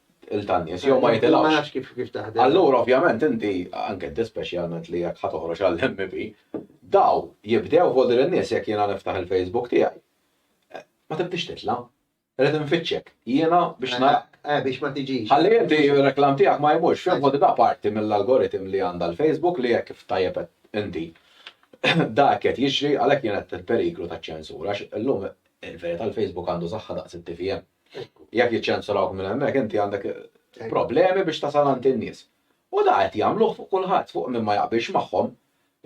il tanjes jew ma jitilgħux. Ma nafx kif kif taħdem. Allura ovvjament inti anke inti speċjalment li jekk ħa toħroġ għall-MP, daw jibdew fuq din in-nies jekk jiena niftaħ il-Facebook tiegħi. Eh, ma tibdix titla'. Rrid nfittxek. Jiena biex eh, narak. Eh, eh, biex ma tiġix. Ħalli inti reklam tiegħek ma jmurx fejn fuq da parti mill-algoritm li għandha l-Facebook li jekk ftajjeb inti. Dak qed jiġri għalhekk jien qed il-periklu taċ-ċensura għax illum il-verità l-Facebook għandu saħħa daqs it-TVM. Jekk jiċċensurawk minn hemmhekk inti għandek problemi biex tasal għand in-nies. U da qed jagħmluh fuq kulħadd, fuq min ma jaqbilx magħhom.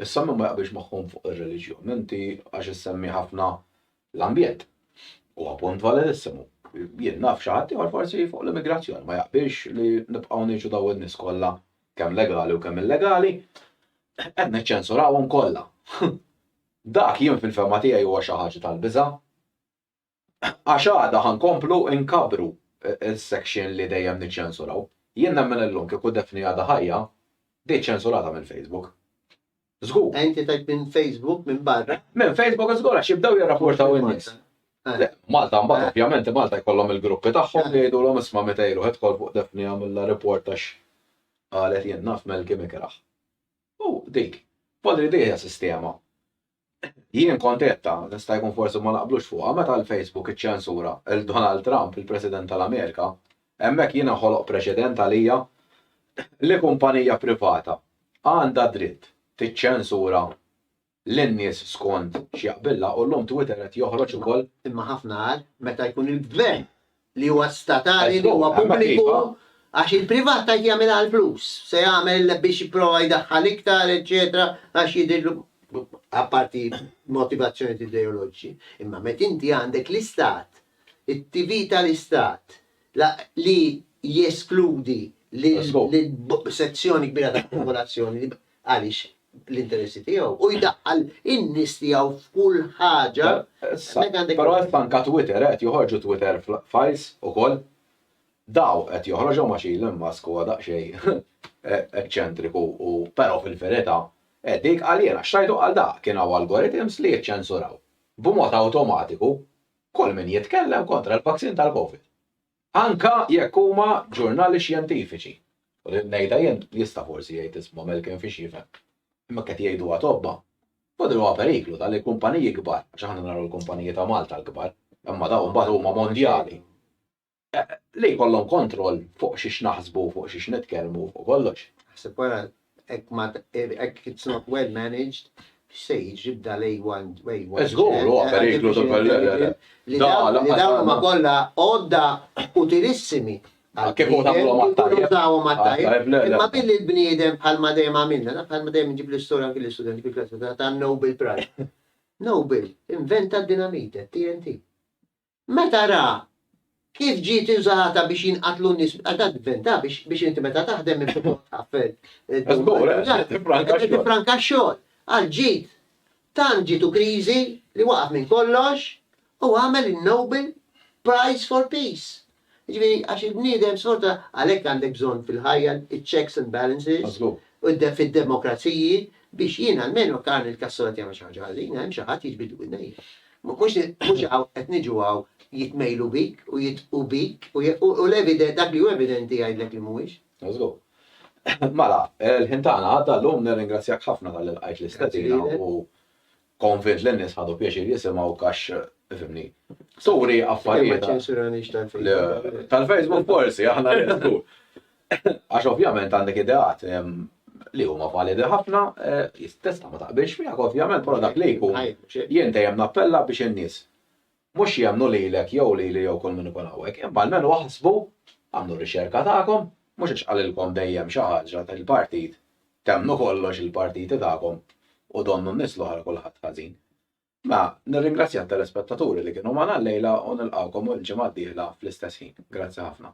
Issa min ma jaqbilx magħhom fuq ir-reliġjon, inti għax issemmi ħafna l-ambjent. Huwa punt validissimu. Jien naf xi ħadd ieħor forsi fuq l-immigrazzjoni ma jaqbilx li nibqgħu ngħixu daw in-nies kollha kemm legali u kemm illegali, qed niċċensurawhom kollha. Dak jien fil-fehma tiegħi huwa xi ħaġa tal-biża'. Għax għada ħa nkomplu nkabbru s-section li dejjem niċċensuraw. Jien nemmen illum kieku Daphne għadha ħajja, di ċċensurata minn Facebook. Żgur. Ah inti tgħid minn Facebook minn barra? Minn Facebook żgur għax jibdew jirrapportaw in-nies. Le, Malta mbagħad ovvjament Malta jkollhom il-gruppi tagħhom li jgħidulhom isma' meta jruħ idħol fuq Daphne għamilha report għax qalet jien naf Melky Mikrah. U dik. Poll li di hija sistema. Jien kont għedtha, jista' jkun forsi ma naqblux fuqha, meta l-Facebook iċċensura 'l Donald Trump, il-President tal-Amerika, hemmhekk jien inħoloq preċedent għalija li kumpanija privata għandha dritt tiċċensura lin-nies skont x'jaqbillha u llum Twitter qed joħroġ ukoll. Imma ħafna agħar meta jkun il-Gvern li huwa statali, li huwa pubbliku, għax il-privat tgħid jagħmilha għall-flus, se jagħmel biex jipprova jdaħħal iktar, eċċetera, għax jidhirlu, apparti motivazzjonijiet ideoloġiċi. Imma meta inti għandek l-Istat, it-TV tal-Istat, li jeskludi lil sezzjoni kbira tal-popolazzjoni, għaliex l-interessi tiegħu u jdaħħal in-nies tiegħu f'kull ħaġa. Però issa anke Twitter qed joħorġu Twitter files ukoll. Daw qed joħroġhom għax Elon Musk huwa daqsxejn eċċentriku u però fil-verità eh, dik għal jiena xtajtu għal dak kien hawn algorithms li jiċċensuraw b'mod awtomatiku kull min jitkellem kontra l-vaccine tal-COVID. Anke jekk huma ġurnali xjentifiċi. U din ngħidha jien, jista' forsi jgħid isma' Melkin fiex jifhem. Imma jekk qed jgħiduha tobba. U din huwa periklu ta' li kumpaniji kbar, għax aħna naraw il-kumpaniji ta' Malta l-kbar, imma dawn imbagħad huma mondjali, li jkollhom kontroll fuq xiex naħsbu, fuq xiex nitkellmu, fuq kollox. Ħsib wara Hekk ma hekk it's not well managed, x'se jiġri b'da l-A1, A1. Eh, żgur, huwa periklu ta' per- le, le, le. Li Da, dawn- li lanqas dawn huma ma- kollha għodda utilissimi għal Kif hu tagħmluhom għat-tajjeb? Użawhom għat-tajjeb. Għat-tajjeb, le, le. Imma billi l-bniedem bħalma dejjem għamilna, naf bħalma dejjem nġib l-istorja anki l-istudenti fil-klassi ta' ta' Nobel Prize. Nobel inventa d-dinamite, TNT. Meta ra kif ġiet użata biex jinqatlu n-nies, għax dak gvern ta' biex inti meta taħdem inti tħaffel. Żgur, tifranka x-xogħol. Għal ġid, tant ġitu kriżi li waqaf minn kollox u għamel in-Nobel Prize for Peace. Jiġifieri għax il-bniedem xorta għalhekk għandek bżonn fil-ħajja iċ-checks and balances u fid-demokraziji biex jien almenu jekk Arnold Castor qed jagħmel xi ħaġa ħażina hemm xi ħadd jiġbidlu widnejja. Mhux qed niġu hawn jitmejlu bik u jidqu bik u dak li hu evidenti jgħidlek li mhuwiex. Mażghu. Mela, il-ħin tagħna għadda llum nirringrazzjak ħafna talli lqajt l-istedina u Konvint li n-nies ħadu pjaċir jisimgħuk għax, fimni, turi affarijiet. Tal-Facebook forsi, aħna nisku. Għax ovvjament għandek ideat li huma validi ħafna, eh, jistessa ma taqbilx miegħek ovvjament, però dak li jkun jien dejjem nappella biex in-nies Mhux jemmnu lilek jew lili jew kull min ikun hawnhekk, imma almenu aħsbu, agħmlu r-riċerka tagħkom, mhux għax qalilkom dejjem xi ħaġa il-partit temmnu kollox il-partiti tagħkom u donnu n-nies l-oħra kulħadd ħażin. Mela, nirringrazzja t-telespettaturi li kienu magħna llejla u nilqgħukom il-ġimgħa d-dieħla fl-istess ħin. Grazzi ħafna.